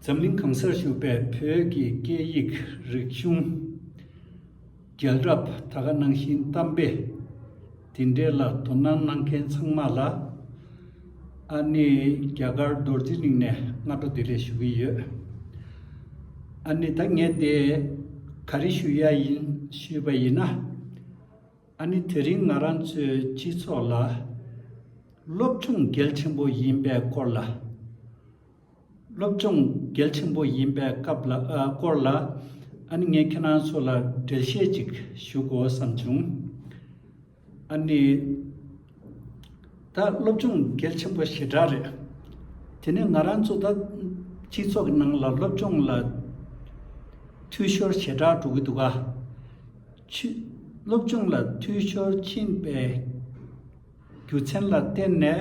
འཛམ་གླིང་གང་སར་བཞུགས་པའི་བོད་ཀྱི་སྐད་ཡིག་རིག་གཞུང་རྒྱལ་རབས་ད་ག་ནང་བཞིན་གཏམ་དཔེ་དེ་འདྲའི་ལ་དོ་སྣང་གནང་མཁན་ཚང་མ་ལ་ཨ་ནི་རྒྱ་གར་རྡོར་རྗེ་གླིང་ནས་སྔ་དྲོ་བདེ་ལེགས་ཞུ་གི་ཡོད། ཨ་ནི་ད་ངས་དེ་ག་རེ་ཞུ་ཡ་ཡིན་ཞུས་པ་ཡིན་ན། ཨ་ནི་དེ་རིང་ང་རང་ཚོའི་སྤྱི་ཚོགས་ལ་སློབ་སྦྱོང་གལ་ཆེན་པོ་ཡིན་པའི་སྐོར་ལ། སློབ་སྦྱོང་གལ་ཆེན་པོ་ཡིན་པའི་སྐབས་ལ་སྐོར་ལ་ཨ་ནི་ངས་ཁྱེད་རང་ཚོ་ལ་འགྲེལ་བཤད་ཅིག་ཞུ་དགོས་བསམ་བྱུང། ཨ་ནི། ད་སློབ་སྦྱོང་གལ་ཆེན་པོ་ཞེ་དྲག་རེད། དེ་ནི་ང་རང་ཚོ་ད་སྤྱི་ཚོགས་ཀྱི་ནང་ལ་སློབ་སྦྱོང་ལ་འཐུས་ཤོར་ཞེ་དྲག་འགྲོ་གི་འདུག་ག། སློབ་སྦྱོང་ལ་འཐུས་ཤོར་ཕྱིན་པའི་རྒྱུ་མཚན་ལ་བརྟེན་ནས་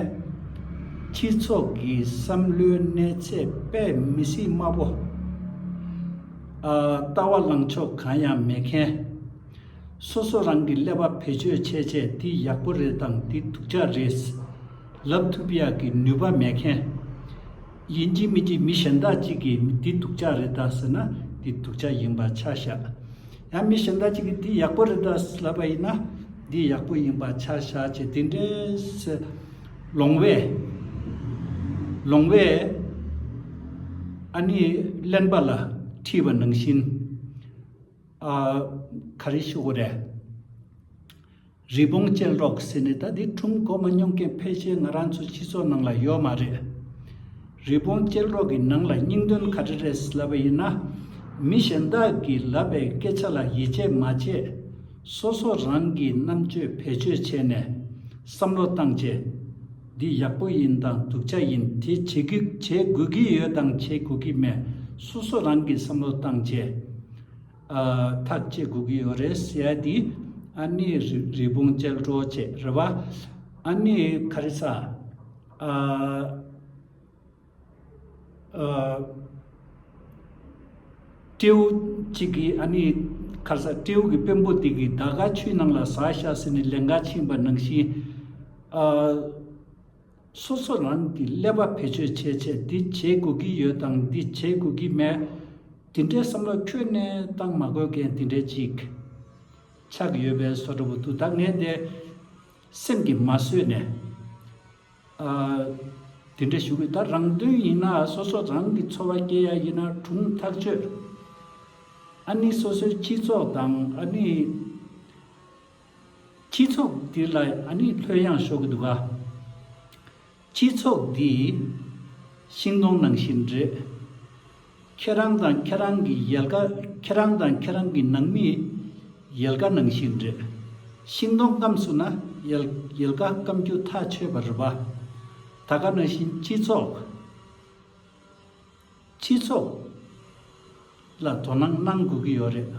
སྤྱི་ཚོགས་ཀྱི་བསམ་བློའི་གནས་ཚད་དཔེ་མི་སྲིད་དམའ་པོ། ལྟ་བ་ལངས་ཕྱོགས་གང་ཡང་མེད་མཁན། སོ་སོ་རང་གི་ཀླད་པ་བེད་སྤྱོད་བྱས་བྱས་འདི་ཡག་པོ་རེད་དམ་འདི་སྡུག་ཅག་རེད། ལབ་ཐུབ་ཡག་གི་ནུས་པ་མེད་མཁན། ཡིན་གྱི་མིན་གྱི་མི་གཞན་དག་ཅིག་གིས་འདི་སྡུག་ཅག་རེད་ད་ཟེར་ན་འདི་སྡུག་ཅག་ཡིན་པ་ཆ་བཞག། ཡང་མི་གཞན་དག་ཅིག་གིས་འདི་ཡག་པོ་རེད་ད་ལབ་པ་ཡིན་ན་འདི་ཡག་པོ་ཡིན་པ་ཆ་བཞག་བྱས་འདི་འདྲས། ལོང་བས། ལོང་བས། ཨ་ནི་གླེན་པ་ལ་ཁྲིད་པ་ནང་བཞིན། ཨ། ག་རེ་ཞུ་གི་རེད། རི་བོང་ཅལ་འདྲོག་ཟེར་ནས་ད་དེ་ཁྲུམས་གོ་མ་མྱོང་མཁན་ཕལ་ཆེར་ང་རང་ཚོའི་སྤྱི་ཚོགས་ནང་ལ་ཡོད་མ་རེད། རི་བོང་ཅལ་འདྲོག་གི་ནང་ལ་སྙིང་དོན་ག་རེ་རེད་ལབ་པ་ཡིན་ན། མི་གཞན་དག་གིས་ལབ་པའི་སྐད་ཆ་ལ་ཡིད་ཆེས་མ་བྱས། སོ་སོ་རང་གིས་རྣམ་དཔྱོད་བེད་སྤྱོད་བྱས་ནས་བསམ་བློ་བཏང་རྗེས། འདི་ཡག་པོ་ཡིན་དང་སྡུག་ཆ་ཡིན་དེ་བྱེད་དགོས་བྱེད་དགོས་ཀྱི་ཡོད་དང་བྱེད་དགོས་ཀྱི་མེད་སོ་སོ་རང་གིས་བསམ་བློ་བཏང་རྗེས་ཐག་བཅད་དགོས་ཀྱི་ཡོད་རེད CID ཨ་ནེ་རི་བོང་ཅལ་འདྲོགས་བྱེད་རེད་བ་ཨ་ནེ་ཁ་རི་ས་ཨ། སྤྲེའུ་གཅིག་གིས་ཨ་ནི། ཁར་ས་སྤྲེའུ་གི་དཔོན་པོ་དེ་གིས་ད་ག་ཆུའི་ནང་ལ་ཟ་ཤ་ཟོས་ནས་ལས་འགའ་ཕྱིན་པ་ནང་བཞིན། སོ་སོ་རང་གི་ཀླད་པ་བེད་སྤྱོད་བྱས་བྱས་འདི་བྱེད་དགོས་ཀྱི་ཡོད་དང་འདི་བྱེད་དགོས་ཀྱི་མེད། དེ་འདྲའི་བསམ་བློ་ཁྱོན་ནས་བཏང་མ་དགོས་མཁན་དེ་འདྲའི་ཅིག་ཆགས་ཡོད་པའི་བཟོ་འདྲ་བོ་འདུག་ད་ངས་དེ་སེམས་ཀྱིས་མ་བཟོད་ནས། དེ་འདྲ་ཞུ་གི་ད་རང་དོན་ཡིན་ན་སོ་སོ་རང་གི་འཚོ་བ་སྐྱེལ་ཡ་ཡིན་ན་དྲུང་ཐག་གཅོད། ཨ་ནི་སོ་སོའི་སྤྱི་ཚོགས་དང་ཨ་ནི། སྤྱི་ཚོགས་འདི་ལ་ཨ་ནི་ལྷོད་གཡང་ཤོར་གི་འདུག་ག། སྤྱི་ཚོགས་འདི། ཤིང་སྡོང་ནང་བཞིན་རེད། ཁྱེད་རང་དང་ཁྱེད་རང་གི་ཡལ་ག་ཁྱེད་རང་དང་ཁྱེད་རང་གི་ནང་མིའི་ཡལ་ག་ནང་བཞིན་རེད། ཤིང་སྡོང་སྐམ་སུ་ན་ཡལ་ག་སྐམ་རྒྱུ་ཐག་ཆོད་པ་རེད་བ། ད་ག་ན་བཞིན་སྤྱི་ཚོགས་སྤྱི་ཚོགས་ལ་དོ་སྣང་གནང་དགོས་ཀྱི་ཡོད་རེད།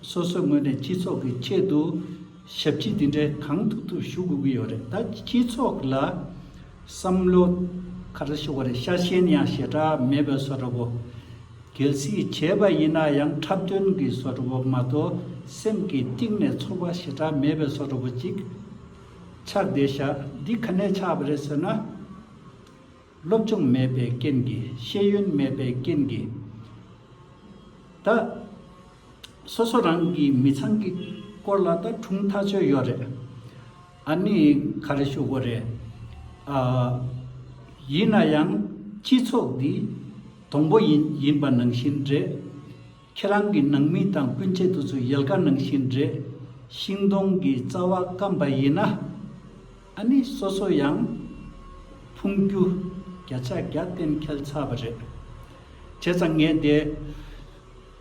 སོ་སོའི་ངོས་ནས་སྤྱི་ཚོགས་ཀྱི་ཆེད་དུ་ཞབས་ཕྱི་དེ་འདྲའི་གང་ཐུབ་ཐུབ་ཞུ་དགོས་ཀྱི་ཡོད་རེད་ད་སྤྱི་ཚོགས་ལ་བསམ་བློ་ག་རེ་ཞུ་དགོས་རེད་ཤ་ཞེན་ཡང་ཞེ་དྲག་མེད་པའི་བཟོ་འདྲ་བོ། གལ་སྲིད་བྱས་པ་ཡིན་ན་ཡང་འཁྲབ་སྟོན་གྱི་བཟོ་འདྲ་བོ་མ་གཏོགས་སེམས་ཀྱི་གཏིང་ནས་ཚོར་བ་ཞེ་དྲག་མེད་པའི་བཟོ་འདྲ་བོ་ཅིག་ཆགས་བསྡད་བཞག་འདི་ག་ནས་ཆགས་པ་རེད་ཟེར་ན། སློབ་སྦྱོང་མེད་པའི་རྐྱེན་གྱིས་ཤེས་ཡོན་མེད་པའི་རྐྱེན་གྱིས། ད། སོ་སོ་རང་གི་མི་ཚང་གི་སྐོར་ལ་ད་དྲུང་ཐག་ཆོད་ཡོད་རེད། ཨ་ནི་ག་རེ་ཞུ་དགོས་རེད། ཨ། ཡིན་ན་ཡང་སྤྱི་ཚོགས་འདི་དང་པོ་ཡིན་ཡིན་པ་ནང་བཞིན་རེད། ཁྱེད་རང་གི་ནང་མི་དང་སྤུན་མཆེད་དུ་ཚོས་ཡལ་ག་ནང་བཞིན་རེད། ཤིང་སྡོང་གི་རྩ་བ་སྐམ་པ་ཡིན་ན། ཨ་ནི་སོ་སོ་ཡང་ཕུང་རྒྱུ་བརྒྱ་ཆ་བརྒྱ་གཏན་འཁེལ་ཚར་བ་རེད། བྱས་ཙང་ངས་དེ།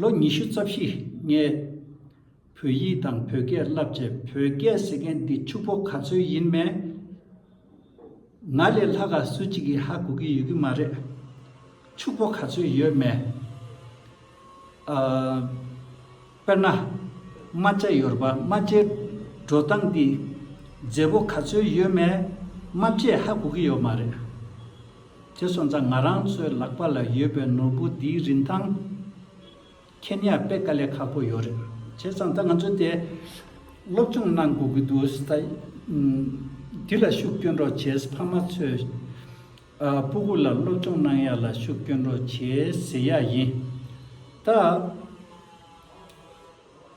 ལོ་ཉི་ཤུ་རྩ་བཞི་ལྔའི་བོད་ཡིག་དང་བོད་སྐད་བསླབས་རྗེས་བོད་སྐད་ཟེར་མཁན་འདི་ཕྱུག་པོ་ག་ཚོད་ཡིན་མེད། ང་ལས་ལྷག་ག་སུ་གཅིག་གིས་ཧ་གོ་གི་ཡོད་ཀྱི་མ་རེད། ཕྱུག་པོ་ག་ཚོད་ཡོད་མེད། དཔེར་ན། རྨ་བྱ་ཡོར་བ་རྨ་བྱའི་འགྲོ་སྟངས་འདི་མཛེས་པོ་ག་ཚོད་ཡོད་མེད་རྨ་བྱས་ཧ་གོ་གི་ཡོད་མ་རེད། དེ་སོང་ཙང་ང་རང་ཚོའི་ལག་པ་ལ་ཡོད་པའི་ནོར་བུ་འདིའི་རིན་ཐང་མཁྱེན་ཡག་དཔེ་དཀའ་ལས་ཁག་པོ་ཡོད་རེད། བྱས་ཙང་ད་ང་ཚོས་དེ་སློབ་སྦྱོང་གནང་དགོས་ཀྱི་འདུག་ད་འདི་ལ་ཤུགས་སྐྱོན་རོགས་བྱས་ཕ་མ་ཚོས་སྤུ་གུ་ལ་སློབ་སྦྱོང་གནང་ཡག་ལ་ཤུགས་སྐྱོན་རོགས་བྱས་ཟེར་ཡག་ཡིན། ད་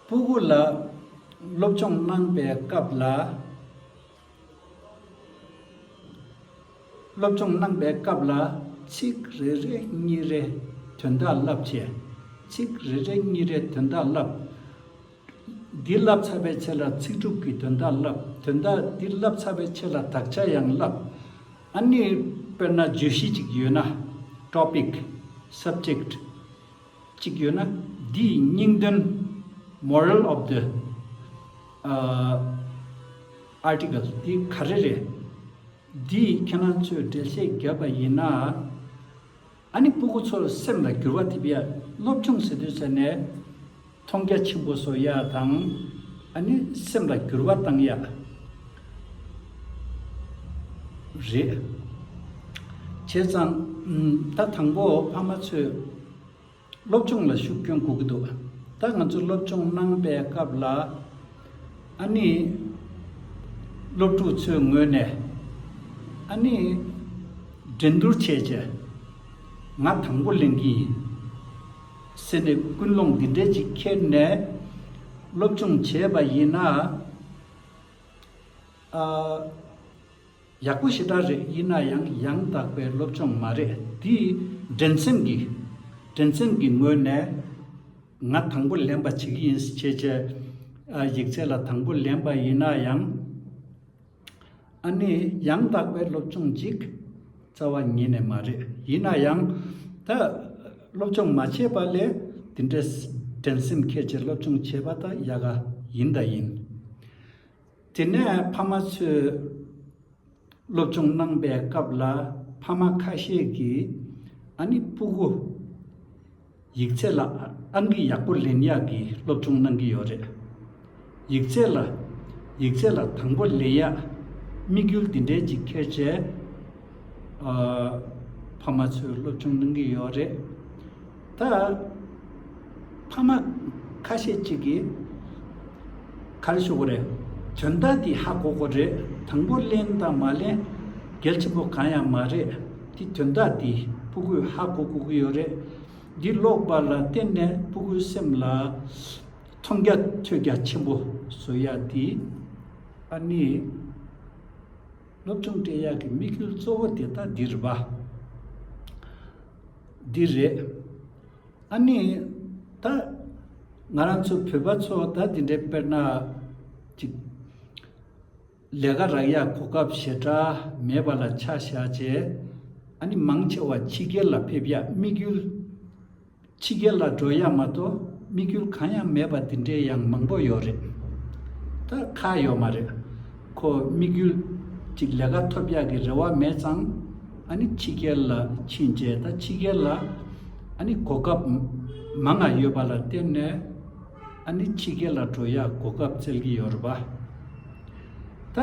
སྤུ་གུ་ལ་སློབ་སྦྱོང་གནང་པའི་སྐབས་ལ། སློབ་སྦྱོང་གནང་པའི་སྐབས་ལ་ཚིག་རེ་རེ་གཉིས་རེ་དོན་དག་བསླབ་བྱས། ཚིག་རེ་རེ་གཉིས་རེ་དོན་དག་བསླབ། འདི་བསླབ་ཚར་བའི་ཚེ་ལ་ཚིག་གྲུབ་ཀྱི་དོན་དག་བསླབ། དོན་དག་འདི་བསླབ་ཚར་བའི་ཚེ་ལ་དག་ཆ་ཡང་བསླབ། ཨཱ་ནི། དཔེར་ན་བརྗོད་གཞི་ཅིག་ཡོད་ན། Topic། Subject། གཅིག་ཡོད་ན་འདི་ཡི་སྙིང་དོན Moral of the Article འདི་ག་རེ་རེད། འདི་ཡིས་ཁྱེད་རང་ཚོས་འགྲེལ་བཤད་བརྒྱབ་པ་ཡིན་ན། ཨ་ནི་སྤུ་གུ་ཚོར་སེམས་ལ་འགྱུར་བ་ཐེབས་ཡ་སློབ་ཆུང་ཟེར་དུས་ཟེར་ནས་མཐོང་རྒྱ་ཆེན་པོ་བཟོ་ཡ་དང་ཨ་ནི་སེམས་ལ་འགྱུར་བ་བཏང་ཡ། རེད། བྱས་ཙང། ད་དང་པོ་ཕ་མ་ཚོས་སློབ་སྦྱོང་ལ་ཤུགས་སྐྱོན་དགོས་ཀྱི་འདུག་ད་ང་ཚོ་སློབ་སྦྱོང་གནང་པའི་སྐབས་ལ། ཨ་ནི། སློབ་ཕྲུག་ཚོའི་ངོས་ནས། ཨ་ནི། འགྲན་བསྡུར་བྱས་རྗེས། ང་དང་པོ་ལེན་གྱི་ཡིན། ཟེར་ནས་ཀུན་སློང་འདི་འདྲའི་ཅིག་འཁྱེར་ནས་སློབ་སྦྱོང་བྱས་པ་ཡིན་ན། ཨ། ཡག་པོ་ཞེ་དྲག་རེད་ཡིན་ན་ཡང་ཡང་དག་པའི་སློབ་སྦྱོང་མ་རེད་དེ། འགྲན་སེམས་ཀྱི། འགྲན་སེམས་ཀྱི་ངོས་ནས། ང་དང་པོ་ལེན་པ་བྱེད་ཀྱི་ཡིན་ཟེར་ཆེད་ཆེད་ཨ་ཡིག་ཚད་ལ་དང་པོ་ལེན་པ་ཡིན་ན་ཡང། ཨ་ནི་ཡང་དག་པའི་སློབ་སྦྱོང་ཅིག་རྩ་བ་ཉིད་ནས་མ་རེད་ཡིན་ན་ཡང་ད། སློབ་སྦྱོང་མ་བྱས་པ་ལས་དེ་འདྲའི་འགྲན་སེམས་ཁད་ཀྱིས་སློབ་སྦྱོང་བྱེད་པ་དང་ཡག་ག་ཡིན་དང་ཡིན། དེ་ནས་ཕ་མ་ཚོས་སློབ་སྦྱོང་གནང་པའི་སྐབས་ལ་ཕ་མ་ཁ་ཤས་ཀྱིས་ཨ་ནི་སྤུ་གུ། ཡིག་ཚད་ལ་ཨང་ཀི་ཡག་པོ་ལེན་ཡག་གི་སློབ་སྦྱོང་གནང་གི་ཡོད་རེད། ཡིག་ཚད་ལ། ཡིག་ཚད་ལ་དང་པོ་ལས་ཡ། དམིགས་ཡུལ་འདི་འདྲའི་གཅིག་ཁྱེར་བྱས། ཨ། ཕ་མ་ཚོས་སློབ་ཆུང་གླེང་གི་ཡོད་རེད། ད། ཕ་མ། ཁ་ཤས་གཅིག་གིས། ག་རེ་ཞུ་གི་རེད། དོན་དག་འདི་ཧ་གོ་གོ་རེད་དང་པོ་གླེང་དང་མ་གླེང། གལ་ཆེན་པོ་གང་ཡང་མ་རེད། འདི་དོན་དག་འདི་སྤུ་གུས་ཧ་གོ་གོ་གི་ཡོད་རེད། འདི་ཀློག་པ་ལ་བརྟེན་ནས་སྤུ་གུའི་སེམས་ལ། མཐོང་རྒྱ་ཐོས་རྒྱ་ཆེན་པོ་བཟོ་ཡ་དེ། ཨ་ནི། སློབ་ཆུང་སྤྲད་ཡ་གི་དམིགས་ཡུལ་གཙོ་བོ་དེ་ད་འདི་རེད་པ། འདི་རེད། ཨ་ནི། ད། ང་རང་ཚོ་བོད་པ་ཚོ་ད་འདི་འདྲའི་དཔེར་ན། ཅིག། ལས་ཀ་རག་ཡ་གོ་སྐབས་ཞེ་དྲག་མེད་པ་ལ་ཆ་བཞག་བྱས། ཨ་ནི་མང་ཆེ་བ་ཕྱི་རྒྱལ་ལ་ཕེབས་ཡ་དམིགས་ཡུལ། ཕྱི་རྒྱལ་ལ་འགྲོ་ཡག་མ་གཏོགས་དམིགས་ཡུལ་གང་ཡང་མེད་པ་འདི་འདྲའི་ཡང་མང་པོ་ཡོད་རེད་ད། ཁ་ཡོད་མ་རེད། ཁོ་དམིགས་ཡུལ་གཅིག་ལས་ཀ་ཐོབ་ཡག་གི་རེ་བ་མེད་ཙང། ཨ་ནི་ཕྱི་རྒྱལ་ལ་ཕྱིན་རྗེས་ད་ཕྱི་རྒྱལ་ལ་ཨ་ནི་གོ་སྐབས་མ་ང་ཡོད་པ་ལ་བརྟེན་ནས་ཨ་ནི་ཕྱི་རྒྱལ་ལ་འགྲོ་ཡག་གོ་སྐབས་བཙལ་གི་ཡོད་རེད་པ། ད་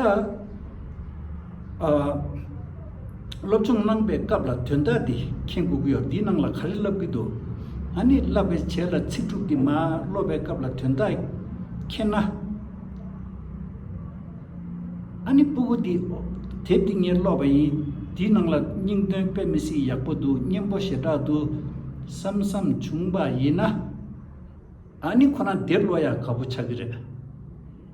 སློབ་སྦྱོང་གནང་པའི་སྐབས་ལ་དོན་དག་འདི་མཁྱེན་དགོས་ཀྱི་ཡོད་འདིའི་ནང་ལ་ག་རེ་བསླབ་ཀྱི་འདུག་ཨ་ནི་བསླབ་པའི་བྱེད་ལ་ཚིག་དྲུག་འདི་མ་སློབ་པའི་སྐབས་ལ་དོན་དག་མཁྱེན་ན། ཨ་ནི་སྤུ་གུ་འདི་དེབ་འདི་ངས་ཀློག་པ་ཡིན་འདིའི་ནང་ལ་སྙིང་དོན་དཔེ་མི་སྲིད་ཡག་པོ་འདུག་སྙན་པོ་ཞེ་དྲག་འདུག་བསམ་བསམ་བྱུང་བ་ཡིན་ན། ཨ་ནི་ཁོ་ན་དེབ་ཀློག་ཡག་ག་པོ་ཆགས་ཀྱི་རེད།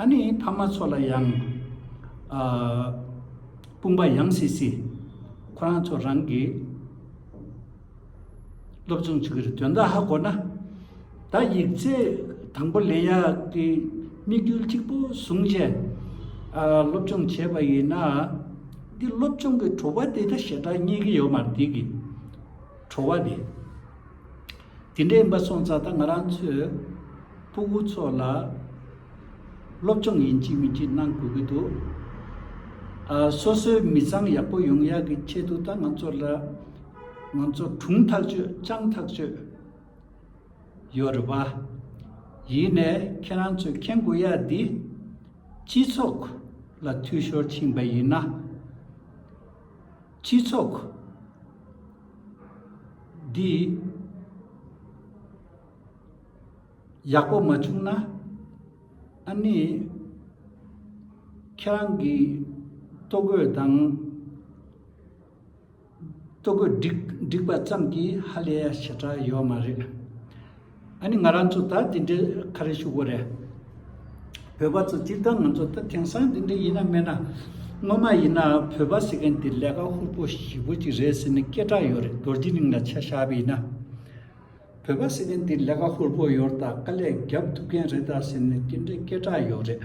ཨ་ནི་ཕ་མ་ཚོ་ལ་ཡང་དཔུང་པ་ཡང་སྲིད་སྲིད། ཁོ་རང་ཚོ་རང་གིས་སློབ་སྦྱོང་བྱེད་ཀྱི་རེད་དོན་དག་ཧ་གོ་ན། ད་ཡིག་རྩེ་དང་པོ་ལས་ཡག་གི་དམིགས་ཡུལ་གཅིག་པུ་བཟུང་རྗེས་སློབ་སྦྱོང་བྱས་པ་ཡིན་ན། འདི་སློབ་སྦྱོང་གི་བྲོ་བ་དེ་ད་ཞེ་དྲག་རྙེད་ཀྱི་ཡོད་མ་རེད་གི། བྲོ་བ་དེ། དེ་འདྲའི་འབའ་སོང་ཙག་ད་ང་རང་ཚོས་སྤུ་གུ་ཚོ་ལ་སློབ་སྦྱོང་ཡིན་གཅིག་མིན་གཅིག་གནང་དགོས་ཀྱི་འདུག་ཨ། སོ་སོའི་མི་ཚང་ཡག་པོ་ཡོང་ཡག་གི་ཆེད་དུ་ད་ང་ཚོ་ལ་ང་ཚོ་གྲུང་ཐག་གཅོད་སྤྱང་ཐག་གཅོད་ཡོད་རེད་བ། ཡིན་ནས་ཁྱེད་རང་ཚོས་མཁྱེན་དགོས་ཡག་འདི་སྤྱི་ཚོགས་ལ་འཐུས་ཤོར་ཕྱིན་པ་ཡིན་ན། སྤྱི་ཚོགས་འདི་ཡག་པོ་མ་བྱུང་ན་ཨ་ནི་ཁྱེད་རང་གི་ལྟོ་གོས་དང་ལྟོ་གོས་བསྒྲིགས་པ་ཙམ་གྱིས་ཧ་ལས་ཡ་ཞེ་དྲག་ཡོད་མ་རེད། ཨ་ནི་ང་རང་ཚོ་ད་དེ་འདྲའི་ཁ་རས་ཤུགས་པོ་རེད། བོད་པ་ཚོ་སྤྱིར་བཏང་ང་ཚོ་ད་དེང་སང་དེ་འདྲ་ཡིན་ན་སྨྲས་ན། སྔོན་མ་ཡིན་ན་བོད་པ་ཟེར་མཁན་དེ་ལས་ཀ་ཧུར་པོ་ཞིག་པོ་ཅིག་རེད་ཟེར་ནས་སྐད་གྲགས་ཡོད་རེད་རྡོ་རྗེ་གླིང་ལ་ཆ་བཞག་པ་ཡིན་ན། བོད་པ་ཟེར་མཁན་དེ་ལས་ཀ་ཧུར་པོ་ཡོད་རེད་དཀའ་ལས་རྒྱབ་ཐུབ་མཁན་རེད་ཟེར་ནས་དེ་འདྲའི་སྐད་གྲགས་ཡོད་རེད།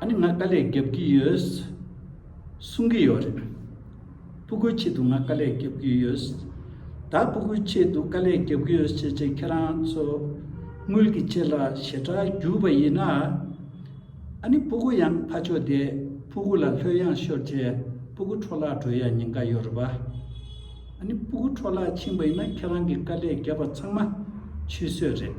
ཨ་ནི་ང་དཀའ་ལས་རྒྱབ་ཀྱི་ཡོད། གསུང་གི་ཡོད་རེད། སྤུ་གུའི་ཆེད་དུ་ང་དཀའ་ལས་རྒྱབ་ཀྱི་ཡོད། ད་སྤུ་གུའི་ཆེད་དུ་དཀའ་ལས་རྒྱབ་ཀྱི་ཡོད་ཅེས་ཁྱེད་རང་ཚོ་དངུལ་གྱི་ཆེད་ལ་ཞེ་དྲག་རྒྱུགས་པ་ཡིན་ན། ཨ་ནི་སྤུ་གུ་ཡང་ཕ་ཕྱོགས་དེ་སྤུ་གུ་ལ་ལྷོད་གཡང་ཤོར་རྗེས་སྤུ་གུ་འཕྲོ་བརླག་འགྲོ་ཡ་ཉེན་ཁ་ཡོད་རེད་པ། ཨ་ནི་སྤུ་གུ་འཕྲོ་བརླག་ཕྱིན་པ་ཡིན་ན་ཁྱེད་རང་གི་དཀའ་ལས་རྒྱབ་པ་ཚང་མ་ཆུད་ཟོས་རེད།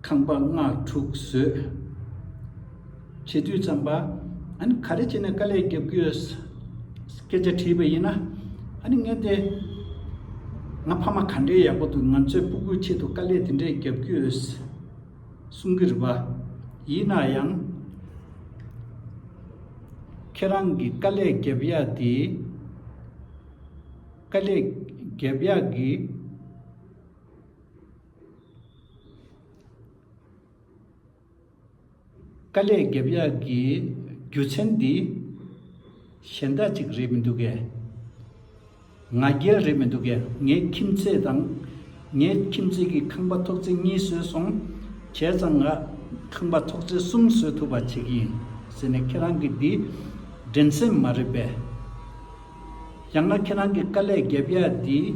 ཁང་པ་ལྔ་དྲུག་བཟོས། བྱེད་དུས་བརྩམས་པ། ཨཱ་ག་རེ་བྱས་ནས་དཀའ་ལས་རྒྱབ་ཀྱི་ཡོད། སྐད་ཆ་དྲིས་པ་ཡིན་ན། ཨཱ་ནི་ངས་དེ། ང་ཕ་མ་ག་འདྲའི་ཡག་པོ་འདུག་ང་ཚོའི་སྤུ་གུའི་ཆེད་དུ་དཀའ་ལས་དེ་འདྲས་རྒྱབ་ཀྱི་ཡོད། གསུང་གི་རེད་པ། ཡིན་ན་ཡང། ཁྱེད་རང་གི་དཀའ་ལས་རྒྱབ་ཡག་དེ། དཀའ་ལས་རྒྱབ་ཡག་གི། དཀའ་ལས་བརྒྱབ་ཡ་གི་རྒྱུ་ཆེན་འདི། གཞན་དག་ཅིག་རེད་མི་འདུག་གས། ང་རྒྱལ་རེད་མི་འདུག་གས་ངའི་ཁྱིམ་མཚེས་དང། ངའི་ཁྱིམ་མཚེས་ཀྱི་ཁང་པ་ཐོག་བརྩེགས་གཉིས་བཟོས་སོང། བྱས་ཙང་ང་ཁང་པ་ཐོག་བརྩེགས་གསུམ་བཟོས་ཐུབ་པ་བྱེད་ཀྱི་ཡིན་ཟེར་ནས་ཁྱེད་རང་གི་འདི། འགྲན་སེམས་མ་རེད་པས། ཡང་ན་ཁྱེད་རང་གི་དཀའ་ལས་བརྒྱབ་ཡ་འདིས་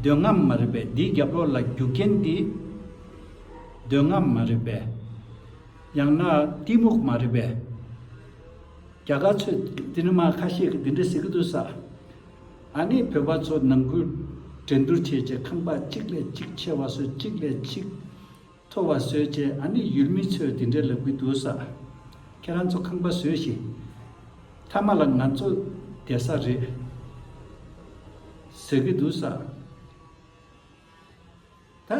འདོད་རྔམ་མ་རེད་པས་འདིས་རྒྱབ་རོགས་ལ་རྒྱུ་རྐྱེན་འདིས་འདོད་རྔམ་མ་རེད་པས། ཡང་ན་གཏི་མུག་མ་རེད་པས། རྒྱ་གར་ཚོས་འདི་འདྲ་མ་ཁ་ཤས་ཀྱིས་འདི་འདྲ་ཟེར་གྱི་འདུག་ས་ཨ་ནི་བོད་པ་ཚོ་ནང་ཁུལ་འགྲན་བསྡུར་བྱེད་ཆེད་ཁང་པ་གཅིག་ལས་གཅིག་ཆེ་བ་སོ་གཅིག་ལས་གཅིག་ཐོ་བ་བཟོས་རྗེས་ཨ་ནེ་ཡུལ་མི་ཚོས་དེ་འདྲའི་ལབ་གི་འདུག་ས་ཁྱེད་རང་ཚོ་ཁང་པ་བཟོས་ཤིག་མཐའ་མ་ལ་ང་ཚོ་བསྡད་ས་རེད་ཟེར་གི་འདུག་ས་ད་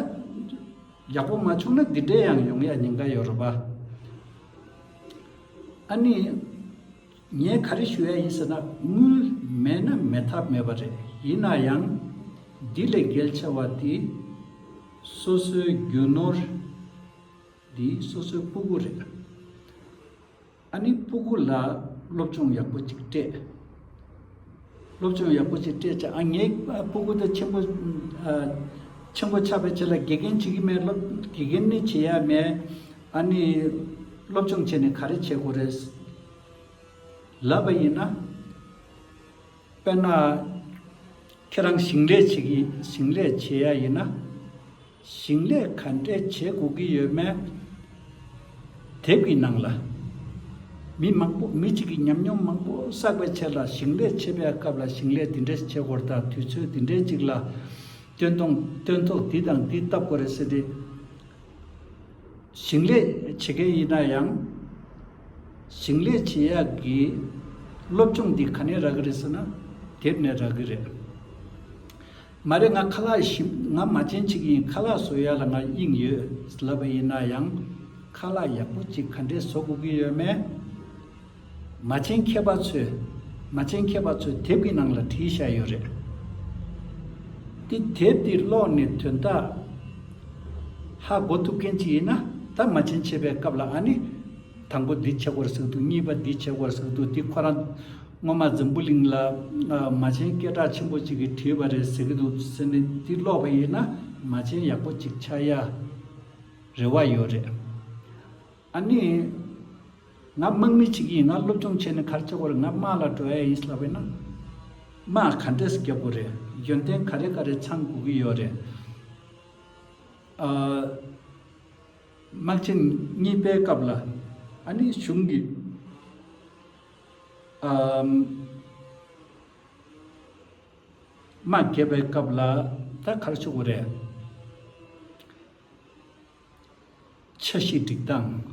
ཡག་པོ་མ་བྱུང་ན་འདི་འདྲའི་ཡང་ཡོང་ཡ་ཉེན་ཁ་ཡོད་རེད་པ་ཨ་ནེ། ངས་ག་རེ་ཞུ་ཡ་ཡིན་ཟེར་ན་དངུལ་མེད་ན་མེད་ཐབས་མེད་པ་རེད། ཡིན་ན་ཡང། འདི་ལས་གལ་ཆེ་བ་དེ། སོ་སོའི་རྒྱུ་ནོར། འདི་སོ་སོའི་སྤུ་གུ་རེད། ཨ་ནི་སྤུ་གུ་ལ་སློབ་སྦྱོང་ཡག་པོ་ཅིག་སྤྲད། སློབ་སྦྱོང་ཡག་པོ་ཞིག་སྤྲད་ཅིང་ངའི་སྤུ་གུ་དེ་ཆེན་པོ་ཆེན་པོ་ཆགས་པའི་ཆེད་ལ་དགེ་རྒན་བྱེད་ཀྱི་མེད་སློབ་དགེ་རྒན་ནི་བྱེད་ཡ་མེད། ཨཱ་ནི། སློབ་སྦྱོང་བྱས་ནས་ག་རེ་བྱེད་དགོས་རེད། ལབ་པ་ཡིན་ན། དཔེར་ན། ཁྱེད་རང་ཞིང་ལས་བྱེད་ཀྱི་ཞིང་ལས་བྱེད་ཡ་ཡིན་ན། ཞིང་ལས་ག་འདྲས་བྱེད་དགོས་ཀྱི་ཡོད་མེད། དེབ་ཀྱི་ནང་ལ། མི་མང་པོ་མི་གཅིག་གིས་ཉམས་མྱོང་མང་པོ་བསགས་པའི་ཆེད་ལ་ཞིང་ལས་བྱེད་པའི་སྐབས་ལ་ཞིང་ལས་འདི་འདྲས་བྱེད་དགོས་རེད་དང་དུས་ཚོད་འདི་འདྲས་ཅིག་ལ་སྟོན་ཐོང་སྟོན་ཐོག་འདི་དང་འདི་བཏབ་དགོས་རེད་ཟེར་ཏེ། ཞིང་ལས་བྱེད་མཁན་ཡིན་ན་ཡང། ཞིང་ལས་བྱེད་ཡག་གི་སློབ་སྦྱོང་འདི་ག་ནས་རག་གི་རེད་ཟེར་ན་དེབ་ནས་རག་གི་རེད། མ་རེད་ང་ཁ་ལག་ཞིབ་ང་མ་ཅན་ཅིག་ཡིན་ཁ་ལག་བཟོ་ཡག་ལ་ང་དབྱིངས་ཡོད་ལབ་པ་ཡིན་ན་ཡང་ཁ་ལག་ཡག་པོ་ཅིག་ག་འདྲས་བཟོ་དགོས་ཀྱི་ཡོད་མེད་མ་ཅན་མཁས་པ་ཚོས་མ་ཅན་མཁས་པ་ཚོས་དེབ་ཀྱི་ནང་ལ་བྲིས་བཞག་ཡོད་རེད་དེ་དེབ་དེ་ཀློག་ནས་དོན་དག་ཧ་གོ་ཐུབ་མཁན་ཅིག་ཡིན་ན་ད་མ་ཅན་བྱེད་པའི་སྐབས་ལ་ཨ་ནི། དང་པོ་འདི་ཆེ་གོར་ཟེགས་འདུག་གཉིས་པ་འདི་ཆེ་གོར་ཟེགས་འདུག་འདི་ཁོ་རང་སྔོན་མ་འཛམ་བུ་གླིང་ལ་མ་ཆེན་སྐད་གྲགས་ཆེན་པོ་ཅིག་གིས་བྲིས་པ་རེད་ཟེར་གྱི་འདུག་ཟེར་ནས་འདི་ཀློག་པ་ཡིན་ན་མ་ཆེན་ཡག་པོ་ཅིག་ཆགས་ཡ་རེ་བ་ཡོད་རེད། ཨ་ནི། ང་དམག་མི་ཅིག་ཡིན་ང་སློབ་སྦྱོང་བྱས་ནས་གར་ཆེ་གོར་ང་དམག་ལ་འགྲོ་ཡ་ཡིན་ལབ་པས་ན། དམག་ག་འདྲས་སྐྱབས་པོ་རེད་ཡོན་ཏན་ག་རེ་ག་རེ་ཚང་དགོས་ཀྱི་ཡོད་རེད། དམག་ཆེན་གཉིས་པའི་སྐབས་ལ་ཨ་ནི་གཞུང་གིས་དམག་རྒྱས་པའི་སྐབས་ལ་ད་གར་ཆུ་བོ་རས་ཆ་བཞི་སྒྲིག་སྟངས།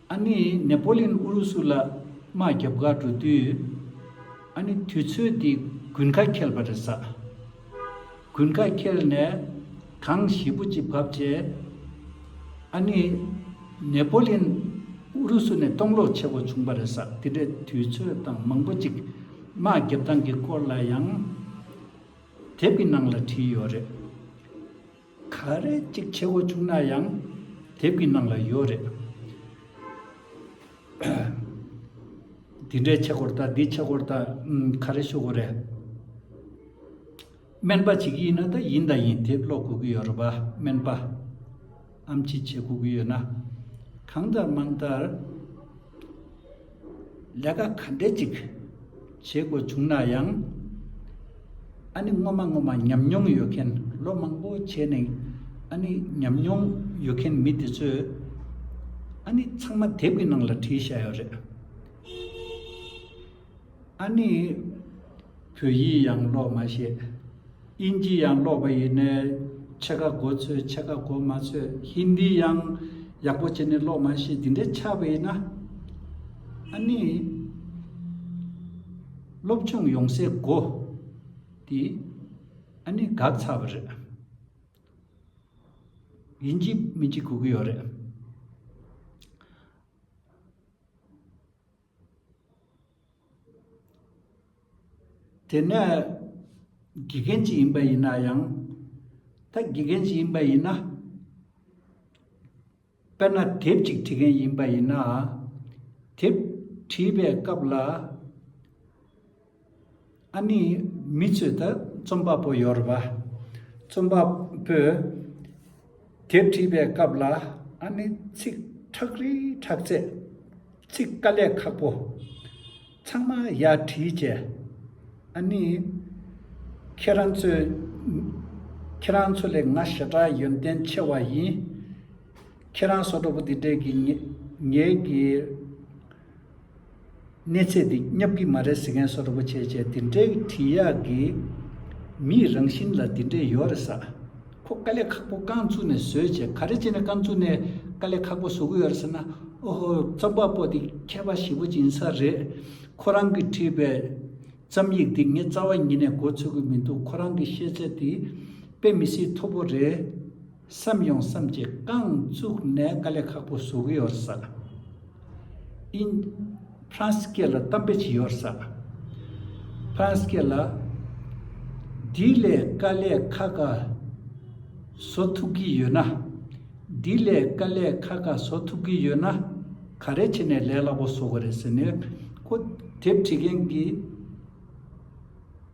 ཨ་ནེ་ནེ་པོ་ལིན་ཨུ་རུ་སུ་ལ་དམག་རྒྱབ་འགག་འགྲོ་དུས། ཨ་ནེ་དུས་ཚོད་འདི་དགུན་ཁ་ཁེལ་བ་རེད་ས། དགུན་ཁ་ཁེལ་ནས་གངས་ཞིབ་པོ་ཅིག་བབས་རྗེས། ཨ་ནེ་ནེ་པོ་ལིན་ཨུ་རུ་སུ་ནས་གཏོང་ལོག་ཆེ་བོ་བྱུང་བ་རེད་ས་དེ་འདྲའི་དུས་ཚོད་དང་མང་པོ་ཅིག་དམག་རྒྱབ་སྟངས་ཀྱི་སྐོར་ལ་ཡང་དེབ་ཀྱི་ནང་ལ་བྲིས་ཡོད་རེད། ག་རེ་གཅིག་ཆེ་བོ་བྱུང་ན་ཡང་དེབ་ཀྱི་ནང་ལ་ཡོད་རེད། དེ་འདྲའི་ཆེ་གོར་དང་དེ་ཆེ་གོར་དང་ག་རེ་ཤོད་གོ་རེད། སྨན་པ་ཞིག་ཡིན་ན་ད་ཡིན་ད་ཡིན་དེབ་ཀློག་དགོས་ཀྱི་ཡོད་རེད་པ་སྨན་པ་ཨམ་ཅི་བྱེད་དགོས་ཀྱི་ཡོད་ན། གང་ལྟར་མང་ལྟར། ལས་ཀ་ག་འདྲས་ཅིག་བྱེད་དགོས་བྱུང་ན་ཡང། ཨ་ནི་སྔོན་མ་སྔོན་མ་ཉམས་མྱོང་ཡོད་མཁན་ལོ་མང་པོ་བྱས་ནས་ཨ་ནི་ཉམས་མྱོང་ཡོད་མཁན་མི་དེ་ཚོས་ཨ་ནི་ཚང་མ་དེབ་ཀྱི་ནང་ལ་བྲིས་བཞག་ཡོད་རེད། ཨ་ནི། བོད་ཡིག་ཡང་ཀློག་མ་ཤེས། དབྱིན་ཇི་ཡང་ཀློག་པ་ཡིན་ནའི། ཕྱེད་ཀ་གོ་ཚོད་ཕྱེད་ཀ་གོ་མ་ཚོད་ཧིན་དི་ཡང་ཡག་པོ་བྱས་ནས་ཀློག་མ་ཤེས་འདི་འདྲའི་ཆགས་པ་ཡིན་ན། ཨ་ནི། སློབ་ཆུང་ཡོང་སའི་སྒོ་དེ་ཨ་ནི་འགག་ཚར་བ་རེད། དབྱིན་ཇི་མི་གཅིག་གོ་གི་ཡོད་རེད། དེ་ནི་དགེ་རྒན་གཅིག་ཡིན་པ་ཡིན་ན་ཡང། ད་དགེ་རྒན་གཅིག་ཡིན་པ་ཡིན་ན། དཔེར་ན་དེབ་ཅིག་བྲི་མཁན་ཡིན་པ་ཡིན་ན། དེབ་བྲིས་པའི་སྐབས་ལ། ཨ་ནི་མི་ཚོས་ད་རྩོམ་པ་པོ་ཡོར་བ་རྩོམ་པ་པོས་དེབ་བྲིས་པའི་སྐབས་ལ་ཨ་ནི་ཚིག་ཁྲག་རིལ་ཁྲག་རྩེད། ཚིག་དཀའ་ལས་ཁག་པོ། ཚང་མ་ཡར་བྲིས་བཅས། ཨ་ནི། ཁྱེད་རང་ཚོས། ཁྱེད་རང་ཚོ་ལས་ང་ཞེ་དྲག་ཡོན་ཏན་ཆེ་བ་ཡིན། ཁྱེད་རང་སོ་དྲོ་པོ་འདི་འདྲས་ཀྱི་ངེད་ཀྱི། གནས་ཚད་འདི་བསྙབ་གི་མ་རེད་ཟེར་མཁན་སོགས་རིན་པོ་ཆེ་བཅས་འདི་འདྲའི་བྲིས་ཡག་གི། མིའི་རང་བཞིན་ལ་འདི་འདྲའི་ཡོད་རེད་ས། ཁོ་དཀའ་ལས་ཁག་པོ་རྐང་བཙུགས་ནས་བཟོས་བྱས་ག་རེ་བྱས་ནས་རྐང་བཙུགས་ནས་དཀའ་ལས་ཁག་པོ་བཟོ་གི་ཡོད་རེད་ཟེར་ན་ཨོ་ཧོ་རྩོམ་པ་པོ་འདི་མཁས་པ་ཞིག་པོ་ཡིན་ས་རེད། ཁོ་རང་གིས་བྲིས་པའི་རྩོམ་ཡིག་འདི་ངས་རྩ་བ་ཉིད་ནས་མགོ་ཚོས་གི་མི་འདུག་ཁོ་རང་གི་ཤེས་ཚད་འདི་དཔེ་མི་སྲིད་མཐོ་པོ་རེད། བསམ་ཡོང་བསམ་གྱིས་རྐང་བཙུགས་ནས་དཀའ་ལས་ཁག་པོ་བཟོ་གི་ཡོད་ས། ཨིན། ཧྥ་རན་སི་སྐད་ལ་གཏམ་དཔེ་ཅིག་ཡོད་ས། ཧྥ་རན་སི་སྐད་ལ། འདི་ལས་དཀའ་ལས་ཁ་ཁ་བཟོ་ཐུབ་གི་ཡོད་ན། འདི་ལས་དཀའ་ལས་ཁ་ཁ་བཟོ་ཐུབ་གི་ཡོད་ན། ག་རེ་བྱས་ནས་ལས་སླ་པོ་བཟོ་གི་རེད་ཟེར་ནས། ཁོ་དེབ་བྲིས་མཁན་གྱི།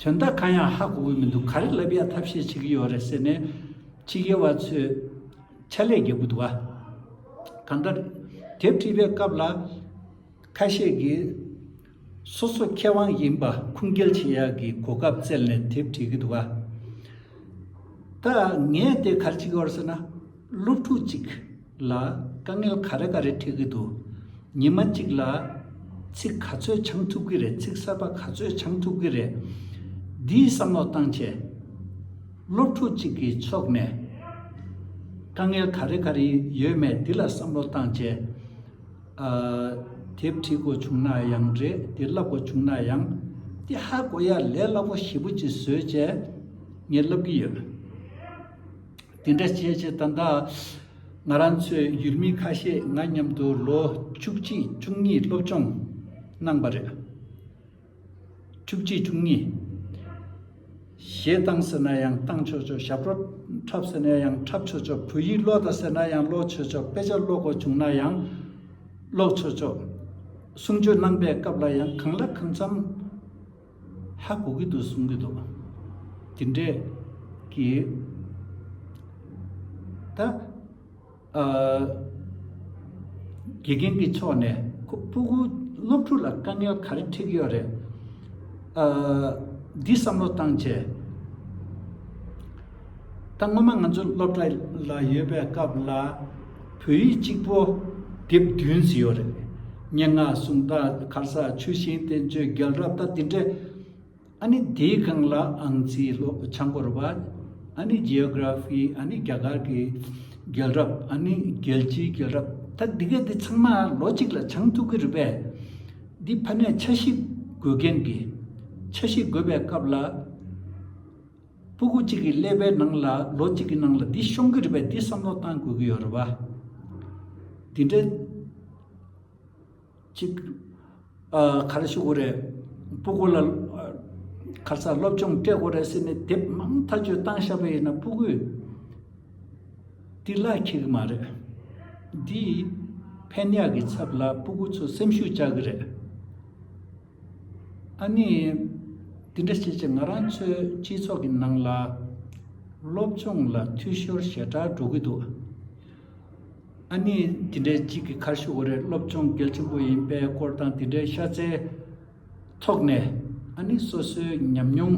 དོན་དག་གང་ཡང་ཧ་གོ་གི་མི་འདུག་ག་རེ་ལབ་ཡ་ཐབས་ཤེས་བྱེད་ཀྱི་ཡོད་རེད་ཟེར་ནས། ཕྱི་རྒྱལ་བ་ཚོས་ཕྱག་ལས་རྒྱག་གི་འདུག་ག། གང་ལྟར། དེབ་བྲིས་པའི་སྐབས་ལ། ཁ་ཤས་ཀྱིས། སོ་སོ་མཁས་དབང་ཡིན་པ་ཁུངས་སྐྱེལ་བྱེད་ཡག་གི་གོ་སྐབས་བཙལ་ནས་དེབ་བྲིས་ཀྱི་འདུག་ག། ད་ངས་དེ་གར་ཅིག་ཡོད་རེད་ཟེར་ན། སློབ་ཕྲུག་ཅིག་ལ་དཀའ་ངལ་ག་རེ་ག་རེ་འཕྲད་ཀྱི་འདུག་ཉི་མ་གཅིག་ལ་ཚིག་ག་ཚོད་འཆང་ཐུབ་ཀྱི་རེད་ཚིག་གསར་པ་ག་ཚོད་འཆང་ཐུབ་ཀྱི་རེད། འདིའི་བསམ་བློ་བཏང་ཆེད། སློབ་ཕྲུག་ཅིག་གི་ཕྱོགས་ནས་དཀའ་ངལ་ག་རེ་ག་རེ་ཡོད་མེད་འདི་ལ་བསམ་བློ་བཏང་ཆེད། དེབ་བྲིས་དགོས་བྱུང་ན་ཡང་རེད་འདི་བསླབ་དགོས་བྱུང་ན་ཡང། འདི་ཧ་གོ་ཡ་ལས་སླ་པོ་ཞིབ་པོ་ཅིག་བཟོས་ཆེད་ངས་བསླབ་ཀྱི་ཡོད། དེ་འདྲ་བྱས་བྱས་ད་ད་ང་རང་ཚོའི་ཡུལ་མི་ཁ་ཤས་ང་མཉམ་དུ་ལོ་བཅུ་གཅིག་བཅུ་གཉིས་སློབ་སྦྱོང་གནང་བ་རེད། བཅུ་གཅིག་བཅུ་གཉིས། གཞས་གཏང་ཟེར་ན་ཡང་གཏང་ཆོག་ཆོག་ཞབས་བྲོ་འཁྲབ་ཟེར་ན་ཡང་འཁྲབ་ཆོག་ཆོག་བོད་ཡིག་ཀློག་ད་ཟེར་ན་ཡང་ཀློག་ཆོག་ཆོག་དཔེ་ཆ་ཀློག་དགོས་བྱུང་ན་ཡང་ཀློག་ཆོག་ཆོག། གསུང་ཆོས་གནང་པའི་སྐབས་ལ་ཡང་གང་ལ་གང་འཚམ། ཧ་གོ་གི་འདུག་གསུང་གི་འདུག་དེ་འདྲས་ཀྱི། ད་དགེ་རྒན་གྱི་ཕྱོགས་ནས་ཁོ་སྤུ་གུ་སློབ་ཕྲུག་ལ་དཀའ་ངལ་ག་རེ་འཕྲད་ཀྱི་ཡོད་རེད། འདི་བསམ་བློ་བཏང་བྱས། ད་སྔོན་མ་ང་ཚོ་སློབ་གྲྭ་ལ་ཡོད་པའི་སྐབས་ལ། བོད་ཡིག་གཅིག་པོ། དེབ་བདུན་བཟི་ཡོད་རེད། སྙན་ངག་གསུང་རྟགས་ཁར་ས་ཆུ་ཤིང་བསྟན་བཅོས་རྒྱལ་རབས་ད་དེ་འདྲ། ཨ་ནི་དེའི་སྒང་ལ་ཨང་རྩིས་ཀློག་བྱང་སྐོར་བ། ཨ་ནི Geography ཨ་ནི་རྒྱ་གར་གྱི་རྒྱལ་རབས་ཨ་ནི་རྒྱལ་སྤྱིའི་རྒྱལ་རབས་ད་དེ་ག་དེ་ཚང་མ་ལོ་གཅིག་ལ་བྱང་ཐུབ་ཀྱི་རེད་པས། འདི་ཕ་མས་ཆ་ཤིག་དགོས་མཁན་གྱིས་ཆ་ཤིག་དགོས་པའི་སྐབས་ལ། སྤུ་གུ་གཅིག་གི་ཀླད་པའི་ནང་ལ་ལོ་གཅིག་གི་ནང་ལ་འདི་ཤོང་གི་རེད་པས་འདི་བསམ་བློ་བཏང་དགོས་ཀྱི་ཡོད་རེད་པ། དེ་འདྲ་གཅིག་ག་རེ་ཞུ་དགོས་རེད། སྤུ་གུ་ལ་ཁ་རྩ་སློབ་སྦྱོང་སྤྲད་དགོས་རེད་ཟེར་ནས་དེབ་མང་མཐའ་དཔྱོད་བཏང་ཤག་པས་ཡིན་ན་སྤུ་གུས་འདི་གླགས་འཁྱེར་གི་མ་རེད། འདིས་ཕན་གཡག་གི་ཚབ་ལ་སྤུ་གུ་ཚོ་སེམས་ཤུགས་བཅག་གི་རེད། ཨ་ནེ། དེ་འདྲ་བྱེད་ཆེད་ང་རང་ཚོའི་སྤྱི་ཚོགས་ཀྱི་ནང་ལ། སློབ་སྦྱོང་ལ་འཐུས་ཤོར་ཞེ་དྲག་འགྲོ་གི་འདུག་ཨ་ནེ། དེ་འདྲའི་གཅིག་གི་ཁར་ཤུ་བ་རེད་སློབ་སྦྱོང་གལ་ཆེན་པོ་ཡིན་པའི་སྐོར་དང་དེ་འདྲའི་ཤ་ཚའི་ཐོག་ནས་ཨ་ནེ་སོ་སོའི་ཉམས་མྱོང་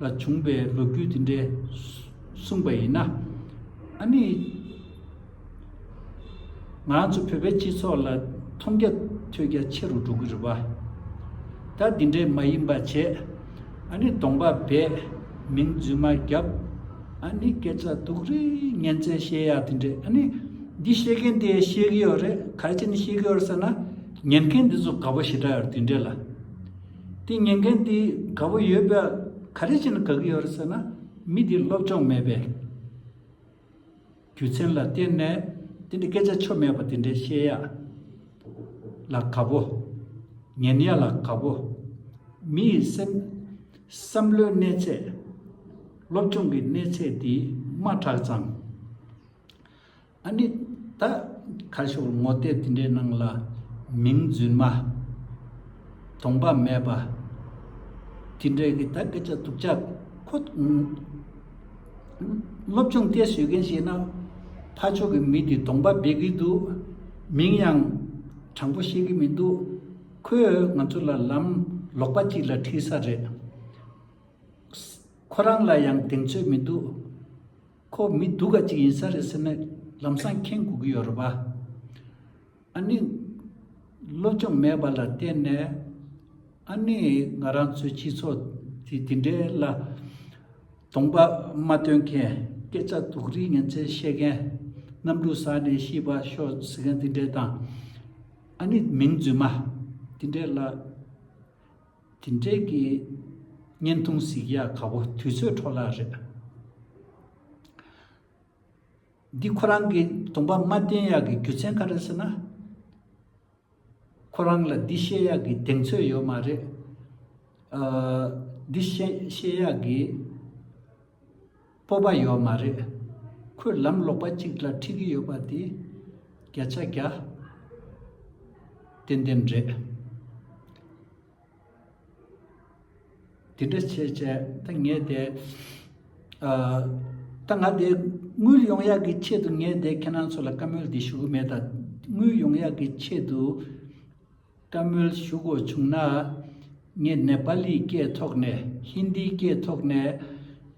ལ་བྱུང་བའི་ལོ་རྒྱུས་དེ་འདྲ་གསུངས་པ་ཡིན་ན། ཨ་ནེ། ང་ཚོ་བོད་པའི་སྤྱི་ཚོགས་ལ་མཐོང་རྒྱ་ཐོས་རྒྱ་ཆེ་རུ་འགྲོ་གི་རེད་བ། ད་འདི་འདྲའི་མ་ཡིན་པ་བྱས་ཨ་ནི་གདོང་པ་བས་མིང་རྫུན་མ་རྒྱབ་ཨ་ནི་སྐད་ཆ་དུག་རེ་ངན་ཚད་བཤད་ཡག་དེ་འདྲས་ཨ་ནི་འདི་བཤད་མཁན་དེ་ཤེས་གི་ཡོད་རེད་ག་རེ་བྱས་ནས་ཤེས་གི་ཡོད་རེད་ཟེར་ན་ཉན་མཁན་དེ་ཚོ་དགའ་པོ་ཞེ་དྲག་ཡོད་རེད་དེ་འདྲས་ལ། དེ་ཉན་མཁན་དེ་དགའ་པོ་ཡོད་པས་ག་རེ་བྱས་ནས་དགའ་གི་ཡོད་རེད་ཟེར་ན་མི་དེ་སློབ་སྦྱོང་མེད་པས། རྒྱུ་མཚན་ལ་བརྟེན་ནས་དེ་འདྲའི་སྐད་ཆ་ཆོ་མེད་པ་དེ་འདྲའི་བཤད་ཡ་ལ་དགའ་པོ། ཉན་ཡ་ལ་དགའ་པོ། མི་ཡི་སེམས། བསམ་བློའི་གནས་ཚད། སློབ་སྦྱོང་གི་གནས་ཚད་དེ་དམའ་དྲགས་ཙང། ཨ་ནི། ད། ཁ་ཤོར་ངོ་བལྟས་དེ་འདྲའི་ནང་ལ། མིང་རྫུན་མ། དོང་པ་མེད་པ། དེ་འདྲའི་གི་ད་སྐད་ཆ་སྡུག་ཅག་ཁོ། སློབ་སྦྱོང་སྐད་ཤོད་མཁན་ཞིག་ན། ཕ་མཆོག་གི་མི་དེ་གདོང་པ་སྦེད་གི་འདུག་མིང་ཡང་དྲང་པོ་ཤེས་ཀྱི་མི་འདུག་ཁོས་ང་ཚོ་ལ་ལམ་ལོག་པ་ཅིག་ལ་ཁྲིད་ས་རེད། ཁོ་རང་ལ་ཡང་གདེང་ཚོད་མི་འདུག་ཁོ་མི་སྡུག་ག་ཅིག་ཡིན་ས་རེད་ཟེར་ནས་ལམ་སང་འཁེན་དགོས་ཀྱི་ཡོད་རེད་པ། ཨ་ནི། སློབ་སྦྱོང་མེད་པ་ལ་བརྟེན་ནས། ཨ་ནི། ང་རང་ཚོའི་སྤྱི་ཚོགས་དེ་དེ་འདྲའི་ལ། དོགས་པ་མ་སྟོན་མཁན། སྐད་ཆ་དོག་རིགས་ངན་ཚད་བཤད་མཁན། གནམ་གྲུ་ཟགས་ནས་ཤི་བ་ཤོག་ཟེར་མཁན་དེ་འདྲའི་དང། ཨ་ནི། མིང་རྫུན་མ། དེ་འདྲའི་ལ། དེ་འདྲའི་གི། བརྙན་ཐུང་གཟིགས་ཡག་ག་བོ་དུས་ཚོད་འཕྲོ་བརླག་རེད། འདི་ཁོ་རང་གི་དུངས་པ་མ་བསྟན་ཡག་གི་རྒྱུ་ཚན་ག་རེད་ཟེར་ན། ཁོ་རང་ལ་འདི་བཤད་ཡག་གི་གདེང་ཚོད་ཡོད་མ་རེད། འདི་བཤད་ཡག་གི་སྤོབས་པ་ཡོད་མ་རེད། ཁོས་ལམ་ལོག་པ་ཅིག་ལ་འཁྲིད་ཀྱི་ཡོད་པ་དེ་བརྒྱ་ཆ་བརྒྱ་ཏན་ཏན་རེད། དེ་འདྲ་བྱས་བྱས་ད་ངས་དེ་ད་ང་དེ་དངུལ་ཡོང་ཡག་གི་ཆེད་དུ་ངས་དེ་ཁྱེད་རང་ཚོ་ལ་བཀའ་མོལ་འདི་ཞུ་གི་མེད་ད་དངུལ་ཡོང་ཡག་གི་ཆེད་དུ་བཀའ་མོལ་ཞུ་དགོས་བྱུང་ན་ངས་ནེ་པ་ལིའི་སྐད་ཐོག་ནས་ཧིན་དིའི་སྐད་ཐོག་ནས་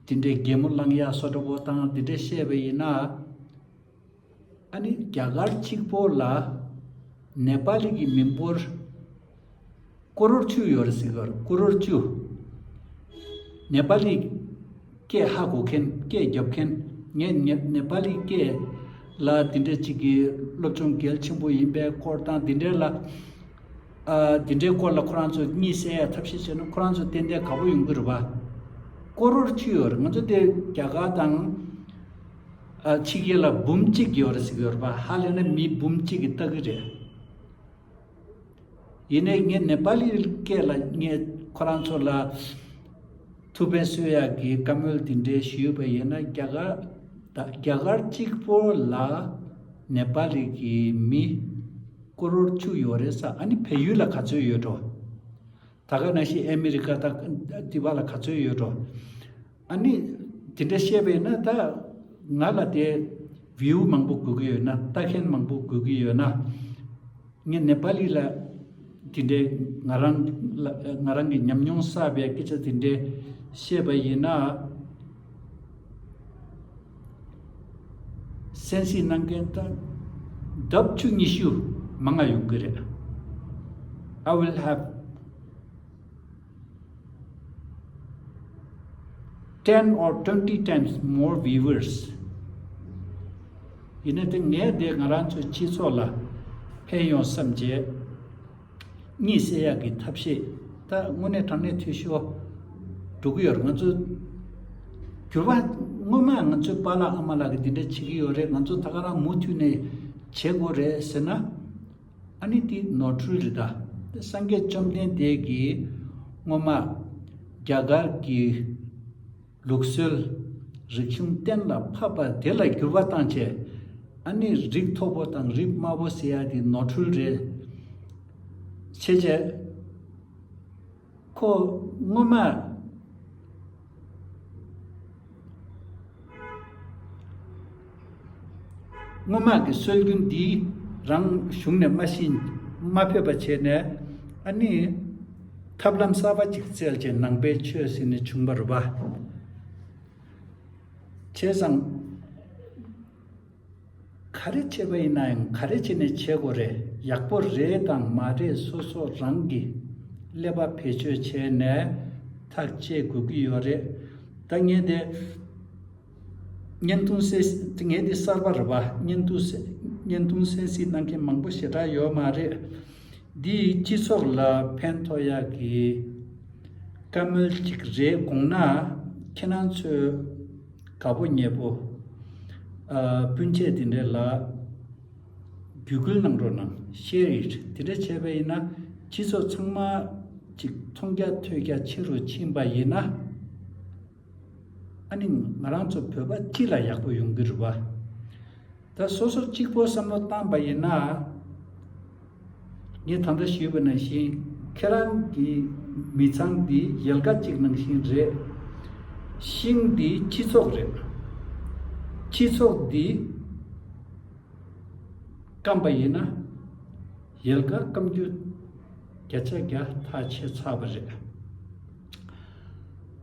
དེ་འདྲའི་རྒྱལ་མོ་གླང་ཡག་སོ་འདྲ་བོ་དང་དེ་འདྲ་བཤད་པ་ཡིན་ན། ཨ་ནི་རྒྱ་གར་གཅིག་པོ་ལ་ནེ་པ་ལི་གི་མི་འབོར་ཀོ་རོར་བཅུ་ཡོད་རེད་ཟེར་གི་རེད་ཀོ་རོར་བཅུ། ནེ་པ་ལི་སྐད་ཧ་གོ་མཁན་སྐད་རྒྱབ་མཁན་ངས་ནེ་པ་ལི་སྐད་ལ་དེ་འདྲའི་གཅིག་གི་སློབ་སྦྱོང་གལ་ཆེན་པོ་ཡིན་པའི་སྐོར་དང་དེ་འདྲའི་ལ་དེ་འདྲའི་སྐོར་ལ་ཁོ་རང་ཚོ་གཉིད་སད་ཡ་ཐབས་ཤེས་བྱས་ན་ཁོ་རང་ཚོ་ཏན་ཏན་ག་པོ་ཡོང་གི་རེད་པ། ཀོ་རོར་བཅུ་ཡོད་རེད་ང་ཚོ་དེ་རྒྱ་གར་དང། ཕྱི་རྒྱལ་ལ་འབུམ་གཅིག་གི་ཡོད་རེད་ཟེར་གྱི་ཡོད་རེད་པ་ཧ་ལས་ན་མི་འབུམ་གཅིག་གི་ལྟ་གི་རེད། ཡིན་ནས་ངས་ནེ་པ་ལིའི་སྐད་ལ་ངས་ཁོ་རང་ཚོ་ལ་ཐུགས་ཕན་གསོས་ཡ་གི་བཀའ་མོལ་དེ་འདྲའི་ཞུས་ཡོད་པ་ཡིན་ན་རྒྱ་གར་དང་རྒྱ་གར་གཅིག་པོ་ལ་ནེ་པ་ལི་གི་མི་སྐོར་རོར་བཅུ་ཡོད་རེད་ས་ཨ་ནི་བལ་ཡུལ་ལ་ག་ཚོད་ཡོད་འགྲོ། ད་ག་ན་ཤི་ཨ་མི་རི་ཀ་དང་ལྟི་བ་ལ་ག་ཚོད་ཡོད་འགྲོ། ཨ་ནི། དེ་འདྲ་བཤད་པས་ན་ད། ང་ལ་དེ། View། མང་པོ་དགོས་ཀྱི་ཡོད་ན་ལྟ་མཁན་མང་པོ་དགོས་ཀྱི་ཡོད་ན། ངས་ནེ་པ་ལི་ལ། དེ་འདྲའི་ང་རང། ང་རང་གི་ཉམས་མྱོང་བསགས་པའི་སྐད་ཆ་དེ་འདྲའི། བཤད་པ་ཡིན་ན། གསན་གཟིགས་གནང་མཁན་དང། ལྡབ་བཅུ་ཉི་ཤུ། མང་ང་ཡོང་གི་རེད། I will have། Ten or twenty times more viewers ཡིན་ན་དེ་ངས་དེ་ང་རང་ཚོའི་སྤྱི་ཚོགས་ལ་ཕན་ཡོང་བསམ་བྱས། གཉིད་སད་ཡག་གི་ཐབས་ཤེས་ད་དངོས་གནས་དྲང་གནས་འཐུས་ཤོར་འགྲོ་གི་ཡོད་རེད་ང་ཚོ་གྱུར་པ་སྔོན་མ་ང་ཚོའི་པ་ལགས་ཨ་མ་ལགས་ཀྱི་འདི་འདྲ་བྱེད་ཀྱི་ཡོད་རེད་ང་ཚོ་ད་ག་རང་མུ་མཐུད་ནས་བྱེད་དགོས་རེད་ཟེར་ན། ཨ་ནི་ཏི་ནོར་འཁྲུལ་རི་དྭགས་ཏེ་སངས་རྒྱས་བཅོམ་ལྡན་འདས་ཀྱིས་སྔོན་མར་རྒྱ་གར་གྱི་ལུགས་སྲོལ་རིག་གཞུང་གཏན་ལ་ཕབ་པ་དེ་ལ་འགྱུར་བ་བཏང་བྱས་ཨ་ནི་རིགས་མཐོ་པོ་དང་རིགས་དམའ་པོ་ཟེར་ཡ་དེ་ནོར་འཁྲུལ་རེད། ཕྱེད་བྱས། ཁོ་སྔོན་མ། སྔོན་མ་གི་སྲོལ་རྒྱུན་འདི་རང་གཞུང་ནས་སྨྲ་ཤིང་སྨྲ་ཕོད་པ་བྱས་ནས་ཨ་ནི། ཐབས་ལམ་གསར་པ་ཅིག་བཙལ་བྱས་ནང་པའི་ཆོས་ཟེར་ནས་བྱུང་བ་རུ་བ། བྱས་ཙང། ག་རེ་བྱས་པ་ཡིན་ནའང་ག་རེ་བྱས་ནས་བྱེད་དགོས་རེད་ཡག་པོ་རེད་དང་མ་རེད་སོ་སོ་རང་གིས་ཀླད་པ་བེད་སྤྱོད་བྱས་ནས་ཐག་བཅད་དགོས་ཀྱི་ཡོད་རེད་ད་ངས་དེ་བརྙན་ཐུང་སེནད་ངས་དེ་གསར་པ་རེད་པ་བརྙན་ཐུང་བརྙན་ཐུང་སེན་སེ་གནང་མཁན་མང་པོ་ཞེ་དྲག་ཡོད་མ་རེད་འདི་སྤྱི་ཚོགས་ལ་ཕན་ཐོགས་ཡག་གི་བཀའ་མོལ་ཅིག་རེད་དགོངས་ན་ཁྱེད་རང་ཚོས། དགའ་པོ་མྱེས་པོ། སྤུན་མཆེད་དེ་འདྲའི་ལ། བརྒྱུད་བསྐུལ་གནང་རོགས་གནང Share it དེ་འདྲ་བྱས་པ་ཡིན་ན་སྤྱི་ཚོགས་ཚང་མ་ཅིག་མཐོང་རྒྱ་ཐོས་རྒྱ་ཆེ་རུ་ཕྱིན་པ་ཡིན་ན། ཨ་ནི་ང་རང་ཚོ་བོད་པ་སྤྱི་ལ་ཡག་པོ་ཡོང་གི་རུ་བ། ད་སོ་སོར་གཅིག་པོ་བསམ་བློ་བཏང་བ་ཡིན་ན། ངས་ད་ལྟ་ཞུས་པ་ནང་བཞིན་ཁྱེད་རང་གི་མི་ཚང་འདི་ཡལ་ག་གཅིག་ནང་བཞིན་རེད། ཤིང་འདི་སྤྱི་ཚོགས་རེད། སྤྱི་ཚོགས་འདི་སྐམ་པ་ཡིན་ན། ཡལ་ག་སྐམ་རྒྱུ་བརྒྱ་ཆ་བརྒྱ་ཐག་ཆོད་ཚར་བ་རེད།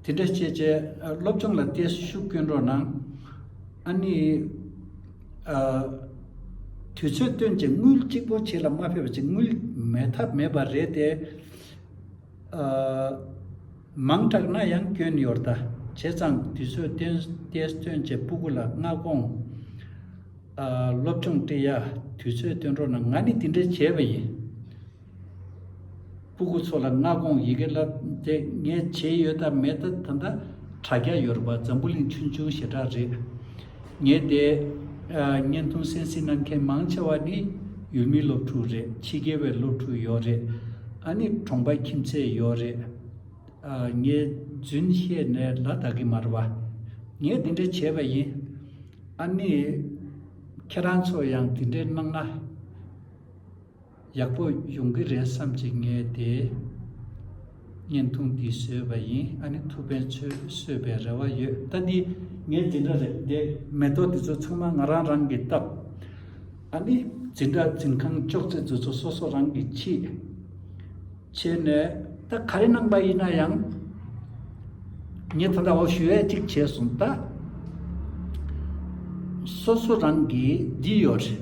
དེ་འདྲ་བྱེད་ཆེད་སློབ་སྦྱོང་ལ་བརྟས་སུ་ཤུགས་བསྐྱོན་རོགས་གནང། ཨ་ནི། དུས་ཚོད་སྟོན་ཅིག་དངུལ་གཅིག་པོ་བྱེད་ལ་མ་ཕེབས་པ་ཅིག་དངུལ་མེད་ཐབས་མེད་པ་རེད་དེ། མང་དྲགས་ན་ཡང་སྐྱོན་ཡོད་རྟ། བྱས་ཙང་དུས་ཚོད་བརྟས་སུ་སྟོན་ཅེས་སྤུ་གུ་ལ་མངའ་དགོངས། སློབ་སྦྱོང་བཀྲིས་ཡ། དུས་ཚོད་སྟོན་རོགས་གནང་ང་ནི་དེ་འདྲ་བྱས་པ་ཡིན། སྤུ་གུ་ཚོ་ལ་སྔ་དགོང་ཡི་གེ་བསླབ་དེ་ངས་བྱེད་ཡོད་དམ་མེད་ད་ད་འདྲ་རྒྱ་ཡོད་རེད་པ་འཛམ་བུ་གླིང་ཆུང་ཆུང་ཞེ་དྲག་རེད། ངས་དེ་བརྙན་ཐུང་གསན་གཟིགས་གནང་མཁན་མང་ཆེ་བ་ནི་ཡུལ་མི་སློབ་ཕྲུག་རེད་ཕྱི་རྒྱལ་བའི་སློབ་ཕྲུག་ཡོད་རེད་ཨ་ནི་གྲོང་པ་ཁྱིམ་མཚེས་ཡོད་རེད། ངས་རྫུན་བཤད་ནས་ལ་དྭགས་ཀྱི་མ་རེད་པ། ངས་དེ་འདྲ་བྱས་པ་ཡིན། ཨ་ནི། ཁྱེད་རང་ཚོ་ཡང་དེ་འདྲ་གནང་ན། ཡག་པོ་ཡོང་གི་རེད་བསམ་གྱི་ངས་དེ་བརྙན་ཐུང་འདི་བཟོས་པ་ཡིན་ཨ་ནི་ཐུབ་པའི་ཚོས་གསོད་པའི་རེ་བ་ཡོད་ད་འདི་ངས་འཛིན་གྲྭ་རེད་དེ་མེ་ཏོག་འདི་ཚོ་ཚང་མ་ང་རང་རང་གིས་བཏབ་ཨ་ནི་འཛིན་གྲྭ་འཛིན་ཁང་གཅོག་ཚེ་འཛུལ་ཚོ་སོ་སོ་རང་གིས་ཁྱིས་བྱས་ནས། ད་ག་རེ་གནང་པ་ཡིན་ན་ཡང་ངས་ད་ལྟ་འོ་ཞུ་ཡས་གཅིག་བྱས་སོང་ད་སོ་སོ་རང་གིས་བགྱིས་ཡོད་རེད།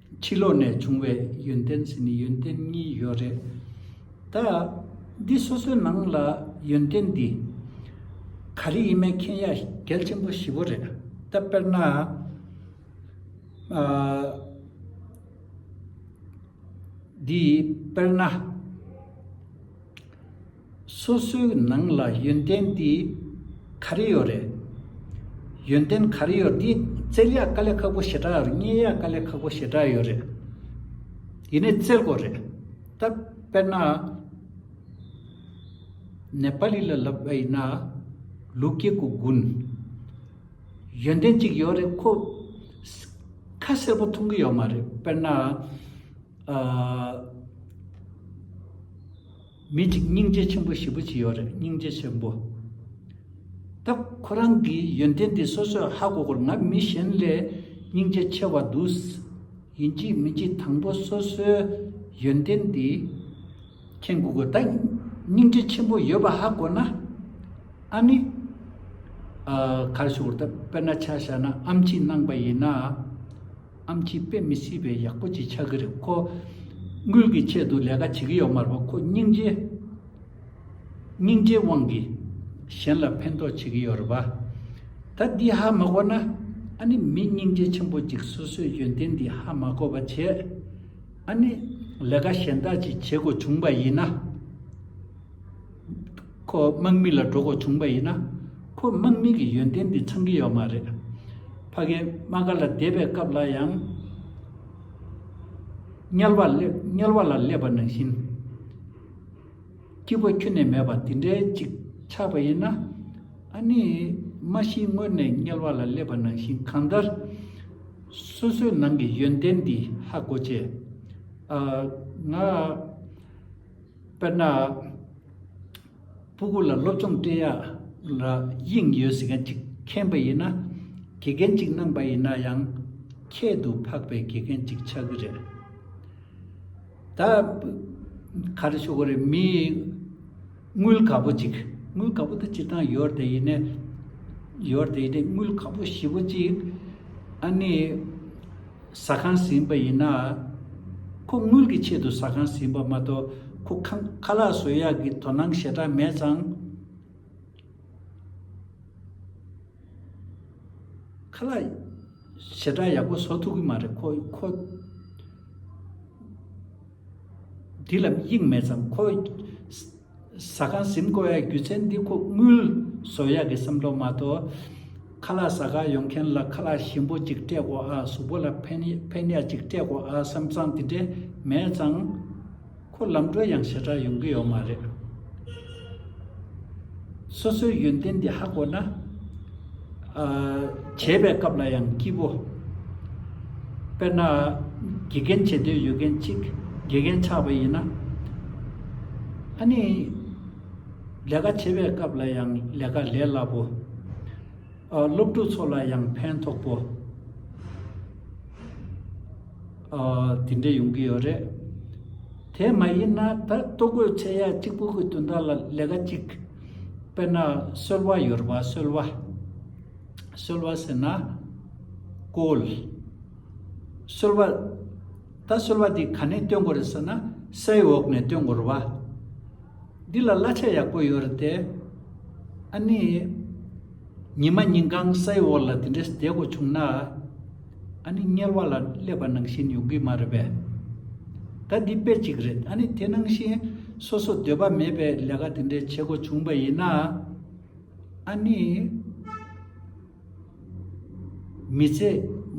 ཕྱི་ལོགས་ནས་བྱུང་བའི་ཡོན་ཏན་ཟིན་ནི་ཡོན་ཏན་གཉིས་ཡོད་རེད། ད། འདི་སོ་སོའི་ནང་ལ་ཡོན་ཏན་འདི། ག་རེ་ཡིན་མིན་མཁྱེན་ཡ་གལ་ཆེན་པོ་ཞི་བོ་རེད། ད་དཔེར་ན། འདི་དཔེར་ན། སོ་སོའི་ནང་ལ་ཡོན་ཏན་དེ་ག་རེ་ཡོད་རེད། ཡོན་ཏན་ག་རེ་ཡོད་དེ་བཙལ་ཡག་དཀའ་ལས་ཁག་པོ་ཞེ་དྲག་རྙེད་ཡག་དཀའ་ལས་ཁག་པོ་ཞེ་དྲག་ཡོད་རེད། ཡིན་ནས་བཙལ་དགོས་རེད། ད་དཔེར་ན། ནེ་པ་ལི་ལ་ལབ་པ་ཡིན་ན། ལུག་སྐྱེ་དགུ་དགུན། ཡོན་ཏན་གཅིག་ཡོད་རེད་ཁོ། ཁ་གསལ་པོ་མཐོང་གི་ཡོད་མ་རེད་དཔེར་ན། མི་གཅིག་སྙིང་རྗེ་ཆེན་པོ་བཞི་པོ་གཅིག་ཡོད་རེད་སྙིང་རྗེ་ཆེན་པོ། ད་ཁོ་རང་གི་ཡོན་ཏན་དེ་སོ་སོས་ཧ་གོ་གོར་ང་མི་གཞན་ལས་སྙིང་རྗེ་ཆེ་བ་འདུག། ཡིན་གཅིག་མིན་གཅིག་དང་པོ་སོ་སོའི་ཡོན་ཏན་དེ་མཁྱེན་དགོས་གོ་ད་སྙིང་རྗེ་ཆེན་པོ་ཡོད་པ་ཧ་གོ་ན་ཨ་ནི། གར་ཞོག་གོ་ད་དཔེར་ན་ཆ་བཞག་ན་ཨམ་ཆིས་གནང་པ་ཡིན་ན། ཨམ་ཆིས་དཔེ་མི་སྲིད་པའི་ཡག་པོ་ཅིག་ཆགས་ཀྱི་རེད་ཁོ། དངུལ་གྱི་ཆེད་དུ་ལས་ཀ་བྱེད་ཀྱི་ཡོད་མ་རེད་ཁོ་སྙིང་རྗེ། སྙིང་རྗེའི་དབང་གིས། གཞན་ལ་ཕན་ཐོགས་བྱེད་ཀྱི་ཡོད་རེད་པ། ད་འདི་ཧ་མ་གོ་ན། ཨ་ནི་མི་སྙིང་རྗེ་ཆེན་པོ་ཅིག་སོ་སོའི་ཡོན་ཏན་འདི་ཧ་མ་གོ་བ་བྱེད། ཨ་ནི། ལས་ཀ་གཞན་དག་ཅིག་བྱེད་དགོས་བྱུང་བ་ཡིན་ན། ཁོ་དམག་མི་ལ་འགྲོ་དགོས་བྱུང་པ་ཡིན་ན། ཁོ་དམག་མི་གི་ཡོན་ཏན་འདི་ཚང་གི་ཡོད་མ་རེད། ཕ་རྒན་དམག་སྒར་ལ་བསྡད་པའི་སྐབས་ལ་ཡང། དམྱལ་བ་ལས་དམྱལ་བ་ལ་སླེབས་པ་ནང་བཞིན། སྐྱིད་པོ་ཁྱོན་ནས་མེད་པ་དེ་འདྲའི་ཅིག་ཆགས་པ་ཡིན་ན། ཨ་ནི། མ་གཞི་དངོས་ནས་དམྱལ་བ་ལ་སླེབས་པ་ནང་བཞིན་གང་ལྟར། སོ་སོའི་ནང་གི་ཡོན་ཏན་འདི་ཧ་གོ་ཆེ། ང། དཔེར་ན། སྤུ་གུ་ལ་སློབ་སྦྱོང་སྤྲད་ཡ་ལ་དབྱིངས་ཡོད་ཟེར་མཁན་གཅིག་མཁྱེན་པ་ཡིན་ན། དགེ་རྒན་གཅིག་གནང་པ་ཡིན་ན་ཡང། ཁྱད་དུ་འཕགས་པའི་དགེ་རྒན་གཅིག་ཆགས་ཀྱི་རེད། ད། ག་རེ་ཞུ་དགོས་རེད་མི། དངུལ་ག་པོ་གཅིག་དངུལ་ག་པོ་དེ་སྤྱིར་བཏང་ཡོད་དེ་ཡིན་ནས། ཡོད་དེ་ཡིན་ནས་དངུལ་ག་པོ་བཞི་པོ་གཅིག། ཨ་ནི། ཟ་ཁང་ཟིན་པ་ཡིན་ན། ཁོ་དངུལ་གྱི་ཆེད་དུ་ཟ་ཁང་ཟིན་པ་མ་གཏོགས་ཁོ་ཁང་ཁ་ལག་བཟོ་ཡག་གི་དོ་སྣང་ཞེ་དྲག་མེད་ཙང། ཁ་ལག་ཞེ་དྲག་ཡག་པོ་བཟོ་ཐུབ་གི་མ་རེད་ཁོ། ཁོ་འདི་ལ་དབྱིངས་མེད་ཙང་ཁོ། ཟ་ཁང་གཟིམ་དགོས་པའི་རྒྱུ་མཚན་འདི་ཁོ་དངུལ་བཟོ་ཡག་གི་བསམ་ཐོག་མ་གཏོགས། ཁ་ལག་ཟ་ཁང་ཡོང་མཁན་ལ་ཁ་ལག་ཞིམ་པོ་ཅིག་སྤྲད་དགོས་ཨ་གཟུགས་པོ་ལ་ཕན་ཕན་ཡག་ཅིག་སྤྲད་དགོས་ཨ་བསམ་ཙང་དེ་འདྲས་མེད་ཙང། ཁོ་ལམ་འགྲོ་ཡང་ཞེ་དྲག་ཡོང་གི་ཡོད་མ་རེད། སོ་སོའི་ཡོན་ཏན་འདི་ཧ་གོ་ན། བྱེད་པའི་སྐབས་ལ་ཡང་སྐྱིད་པོ། དཔེར་ན། དགེ་རྒན་བྱེད་འདོད་ཡོད་མཁན་གཅིག་དགེ་རྒན་ཆགས་པ་ཡིན་ན། ཨ་ནི། ལས་ཀ་བྱེད་པའི་སྐབས་ལ་ཡང་ལས་ཀ་ལས་སླ་པོ། སློབ་ཕྲུག་ཚོ་ལ་ཡང་ཕན་ཐོགས་པོ། དེ་འདྲས་ཡོང་གི་ཡོད་རེད། དེ་མ་ཡིན་ན་ད་ལྟོ་གོས་ཚད་ཡག་གཅིག་པོ་གི་དུས་ད་ལ་ལས་ཀ་གཅིག་དཔེར་ན་གསོལ་བ་ཡོད་པ་གསོལ་བ། གསོལ་བ་ཟེར་ན་བཀོལ། གསོལ་བ། ད་གསོལ་བ་འདི་ག་ནས་སྟོན་དགོས་རེད་ཟེར་ན་སའི་འོག་ནས་སྟོན་དགོས་རེད་བ། འདི་ལ་གླ་ཆ་ཡག་པོ་ཡོད་རེད་དེ། ཨ་ནི། ཉི་མ་ཉིན་གང་སའི་འོག་ལ་དེ་འདྲས་བསྡད་དགོས་བྱུང་ན། ཨ་ནི་དམྱལ་བ་ལ་སླེབས་པ་ནང་བཞིན་ཡོང་གི་མ་རེད་པས། ད་འདི་དཔེ་གཅིག་རེད་ཨ་ནི་དེ་ནང་བཞིན་སོ་སོ་འདོད་པ་མེད་པའི་ལས་ཀ་དེ་འདྲའི་བྱེད་དགོས་བྱུང་བ་ཡིན་ན། ཨ་ནི། མི་ཚེ་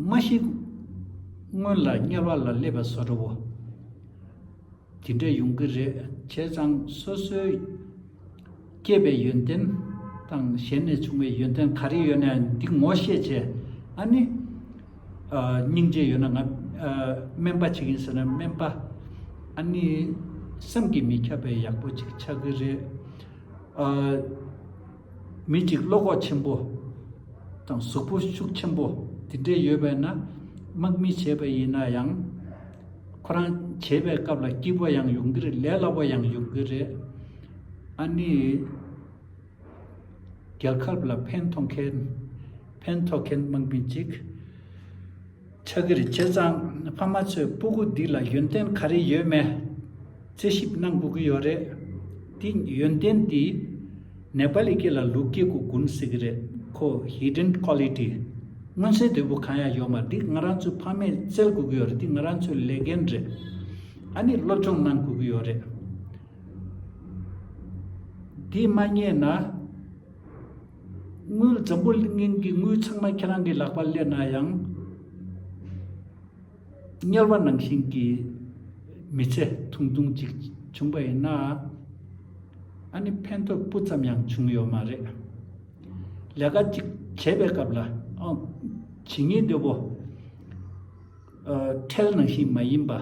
མ་ཞིག་སྔོན་ལ་དམྱལ་བ་ལ་སླེབས་པ་བཟོ་འགྲོ་བོ། དེ་འདྲ་ཡོང་གི་རེད་བྱས་ཙང་སོ་སོའི་སྐྱེས་པའི་ཡོན་ཏན་དང་གཞན་ནས་བྱུང་བའི་ཡོན་ཏན་ག་རེ་ཡོད་ན་ཡང་འདི་ངོ་ཤེས་བྱས་ཨ་ནི་སྙིང་རྗེ་ཡོད་ན་ང་སྨན་པ་བྱེད་ཀྱིན་ཟེར་ན་སྨན་པ་ཨ་ནི་བསམ་གྱིས་མི་ཁྱབ་པའི་ཡག་པོ་ཅིག་ཆགས་ཀྱི་རེད། མི་གཅིག་བློ་ཁོག་ཆེན་པོ་དང་གཟུགས་པོ་ཤུགས་ཆེན་པོ་དེ་འདྲས་ཡོད་པས་ན་དམག་མི་བྱས་པ་ཡིན་ན་ཡང། ཁོ་རང་བྱེད་པའི་སྐབས་ལ་སྐྱིད་པོ་ཡང་ཡོང་གི་རེད་ལས་སླ་པོ་ཡང་ཡོང་གི་རེད། ཨ་ནི། རྒྱལ་ཁབ་ལ་ཕན་ཐོགས་མཁན་ཕན་ཐོགས་མཁན་དམག་མི་གཅིག། ཕྱག་གིར་བྱས་ཙང་ཕ་མ་ཚོས་སྤུ་གུ་འདི་ལ་ཡོན་ཏན་ག་རེ་ཡོད་མེད་རྩད་ཞིབ་གནང་དགོས་ཀྱི་ཡོད་རེད་དེ། ཡོན་ཏན་དེ་ནེ་པ་ལི་སྐད་ལ་ལུག་སྐྱེས་གུ་གུན་ཟེར་གྱི་རེད་ཁོ Hidden Quality མངོན་གསལ་དོད་པོ་གང་ཡང་ཡོད་མ་རེད་ང་རང་ཚོའི་ཕ་མས་བཙལ་དགོས་ཀྱི་ཡོད་རེད་དེ་ང་རང་ཚོའི་ལས་འགན་རེད་ཨ་ནི་སློབ་སྦྱོང་གནང་དགོས་ཀྱི་ཡོད་རེད། དེ་མ་རྙེད་ན། དངུལ་འཛམ་བུ་གླིང་གི་དངུལ་ཚང་མ་ཁྱེད་རང་གི་ལག་པར་སླེབས་ན་ཡང། དམྱལ་བ་ནང་བཞིན་གྱི་མི་ཚེ་ཐུང་ཐུང་ཅིག་བྱུང་བ་ཡིན་ན། ཨ་ནི་ཕན་ཐོགས་སྤུ་ཙམ་ཡང་བྱུང་ཡོད་མ་རེད། ལས་ཀ་ཅིག་བྱེད་པའི་སྐབས་ལ་ཨང། བྱེད་ཉེས་འདི་བོ། ཁྲལ་ནང་བཞིན་མ་ཡིན་པ།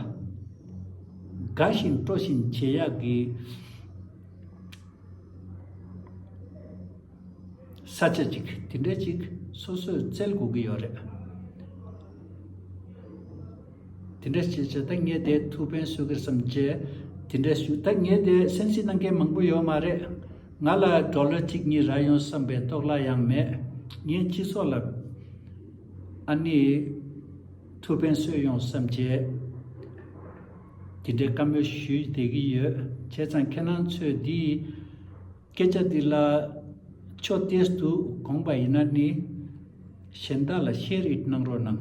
དགའ་བཞིན་སྤྲོ་བཞིན་བྱེད་ཡག་གི། ས་བཅད་ཅིག་དེ་འདྲའི་ཅིག་སོ་སོས་བཙལ་དགོས་ཀྱི་ཡོད་རེད། དེ་འདྲའི་བྱེད་བྱེད་ད་ངས་དེ་ཐུགས་ཕན་གསོས་ཀྱི་སམ་ཅེས་དེ་འདྲའི་ཞུ་ད་ངས་དེ་གསན་གཟིགས་གནང་མཁན་མང་པོ་ཡོད་མ་རེད། ང་ལ་སྒྲོག་ལོས་ཅིག་གཉིས་རག་ཡོང་བསམ་པའི་རྟོག་ལ་ཡང་མེད། ངས་སྤྱི་ཚོགས་ལ་ཨ་ནི་ཐུགས་ཕན་གསོས་ཡོང་བསམ་ཅེས། དེ་འདྲའི་བཀའ་མོལ་ཞུས་བསྡད་ཀྱི་ཡོད་བྱས་ཙང་ཁྱེད་རང་ཚོས་འདིའི་སྐད་ཆ་འདི་ལ་ཕྱོགས་བལྟས་སུ་དགོངས་པ་ཡིན་ན་ནི་གཞན་དག་ལ་ཤེས་རིག་གནང་རོགས་གནང།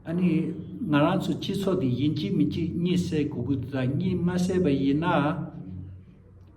ཨ་ནི་ང་རང་ཚོ་སྤྱི་ཚོགས་འདི་ཡིན་གཅིག་མིན་གཅིག་གཉིད་སད་དགོས་ཀྱི་འདུག་ད་གཉིད་མ་སད་པ་ཡིན་ན།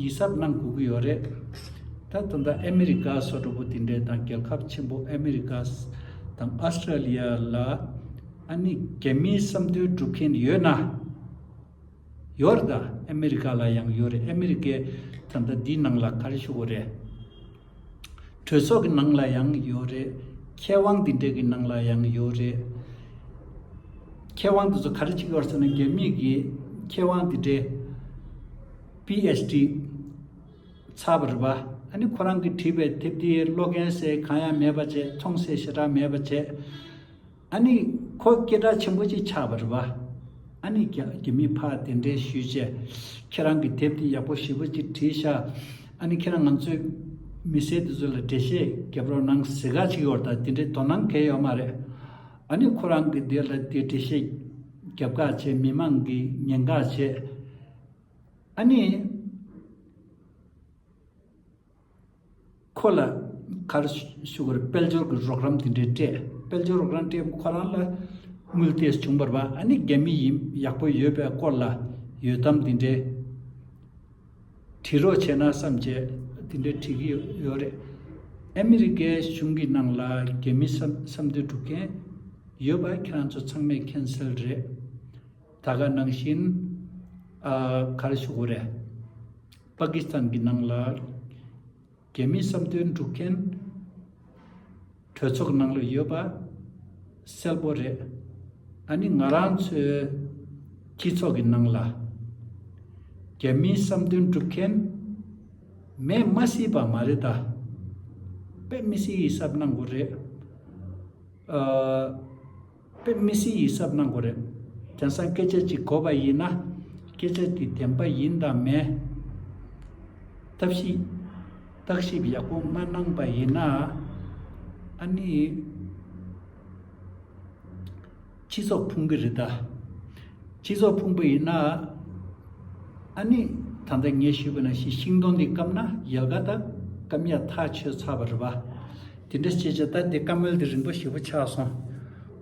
ཡིད་གཟབ་གནང་དགོས་ཀྱི་ཡོད་རེད། ད་དུང་ད་ཨ་མི་རི་ཀ་སོགས་གྲོགས་པོ་དེ་འདྲས་དང་རྒྱལ་ཁབ་ཆེན་པོ་ཨ་མི་རི་ཀ་དང་ཨོ་སི་ཀྲ་ལི་ཡ་ལ་ཨ་ནི་རྒྱ་མིའི་བསམ་འདུན་སྒྲུབ་མཁན་ཡོད་ན། ཡོད་རེད་ད་ཨ་མི་རི་ཀ་ལ་ཡང་ཡོད་རེད་ཨ་མི་རི་ཀས་ད་ལྟ་འདིའི་ནང་ལ་ག་རེ་ཞུ་དགོས་རེད། གྲོས་ཚོགས་ཀྱི་ནང་ལ་ཡང་ཡོད་རེད། མཁས་དབང་འདི་འདྲ་གི་ནང་ལ་ཡང་ཡོད་རེད། མཁས་དབང་འདི་ཚོ་ག་རེ་བྱེད་ཀྱི་ཡོད་ཟེར་ན་རྒྱ་མིས་ཀྱིས་མཁས་དབང་འདི་འདྲའི། PHD། ཚར་བ་རེད་པ། ཨ་ནི་ཁོ་རང་གིས་བྲིས་པའི་དེབ་འདིའི་ཀློག་མཁན་སེ་གང་ཡང་མེད་པ་བཅས་མཐོང་སའི་ཞེ་དྲག་མེད་པ་བཅས། ཨཱ་ནི། ཁོ་སྐད་གྲགས་ཆེན་པོ་ཅིག་ཆགས་པ་རེད་བ། ཨཱ་ནི། རྒྱ་མི་ཕ་དེ་འདྲས་ཞུས་ཆེ། ཁྱེད་རང་གི་དེབ་དེ་ཡག་པོ་ཞིབ་པོ་ཅིག་བྲིས་ཤག། ཨཱ་ནི་ཁྱེད་རང་ང་ཚོའི་མི་སེར་དེ་ཚོ་ལ་འགྲེལ་བཤད་རྒྱབ་རོགས་གནང་ཟེར་ག་ཅིག་ཡོད་ད་དེ་འདྲའི་དོ་སྣང་གལ་ཡོད་མ་རེད། ཨཱ་ནི་ཁོ་རང་གི་དེ་ལ་དེ་འགྲེལ་བཤད་རྒྱབ་ག་ཅེས་མི་མང་གིས་ཉེན་ག་བྱེད། ཨཱ་ནི། ཁོ་ལ་ཁར་ཞུ་བར་དཔལ་འབྱོར་གྱི་རོགས་རམ་དེ་འདྲའི་སྤྲད། དཔལ་འབྱོར་རོགས་རམ་སྤྲད་སྐབས་ཁོ་རང་ལ་དངུལ་ཐེགས་བྱུང་བར་བ་ཨ་ནི་རྒྱ་མི་ཡིན་ཡག་པོ་ཡོད་པའི་སྐོར་ལ་ཡོད་དམ་དེ་འདྲའི་དྲི་རོགས་བྱས་ན་བསམ་བྱས་དེ་འདྲའི་དྲི་གི་ཡོད་རེད། ཨ་མི་རི་ཀའི་གཞུང་གི་ནང་ལ་རྒྱ་མི་བསམ་དོན་སྒྲུབ་མཁན་ཡོད་པ་ཁྱེད་རང་ཚོ་ཚང་མས་མཁྱེན་གསལ་རེད། ད་ག་ནང་བཞིན་ཁར་ཞུ་གོ་རེད། པ་ཀི་སི་ཐན་གྱི་ནང་ལ་རྒྱལ་མིའི་བསམ་འདུན་འགྲུབ་མཁན་གྲོས་ཚོགས་ནང་ལ་ཡོད་པ་གསལ་པོ་རེད། ད་ནི་ང་རང་ཚོའི་སྤྱི་ཚོགས་ཀྱི་ནང་ལ་རྒྱལ་མིའི་བསམ་འདུན་འགྲུབ་མཁན་མེད་མ་སྲིད་པ་མ་རེད་ད། དཔེ་མི་སྲིད་ཡིད་གཟབ་གནང་དགོས་རེད། དཔེ་མི་སྲིད་ཡིད་གཟབ་གནང་དགོས་རེད། རྒྱ་སྲང་སྐད་ཆ་གཅིག་གོ་བ་ཡིན་ན། སྐད་ཆ་དེ་བདེན་པ་ཡིན་དང་མེད། ཐབས་ཤེས། བརྟག་ཞིབ་ཡག་པོ་མ་གནང་པ་ཡིན་ན། ཨ་ནི། སྤྱི་ཚོགས་ཕུང་པོ་རེད་ད། སྤྱི་ཚོགས་ཕུང་པོ་ཡིན་ན། ཨ་ནི། ད་ལྟ་ངས་ཞུས་པ་ན་ཤི་ཤིང་སྡོང་འདི་བཀབ་ན་ཡལ་ག་དང་སྐམ་ཡག་ཐག་ཆོད་ཚར་བ་རེད་བ། དེ་འདྲ་བྱས་བྱས་ད་དེ་བཀའ་མོལ་དེ་རིང་པོ་ཞེ་པོ་ཆགས་སོང།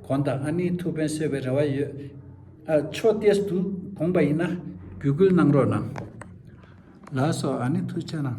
གོང་དང་ཨ་ནེའི་ཐུགས་ཕན་གསོས་པའི་རེ་བ་ཡོད། ཨ་ཕྱོགས་བལྟས་འདུག་དགོངས་པ་ཡིན་ན། བརྒྱུད་སྐུལ་གནང་རོགས་གནང། ལགས་སོ་ཨ་ནེ་ཐུགས་ཆེ་གནང།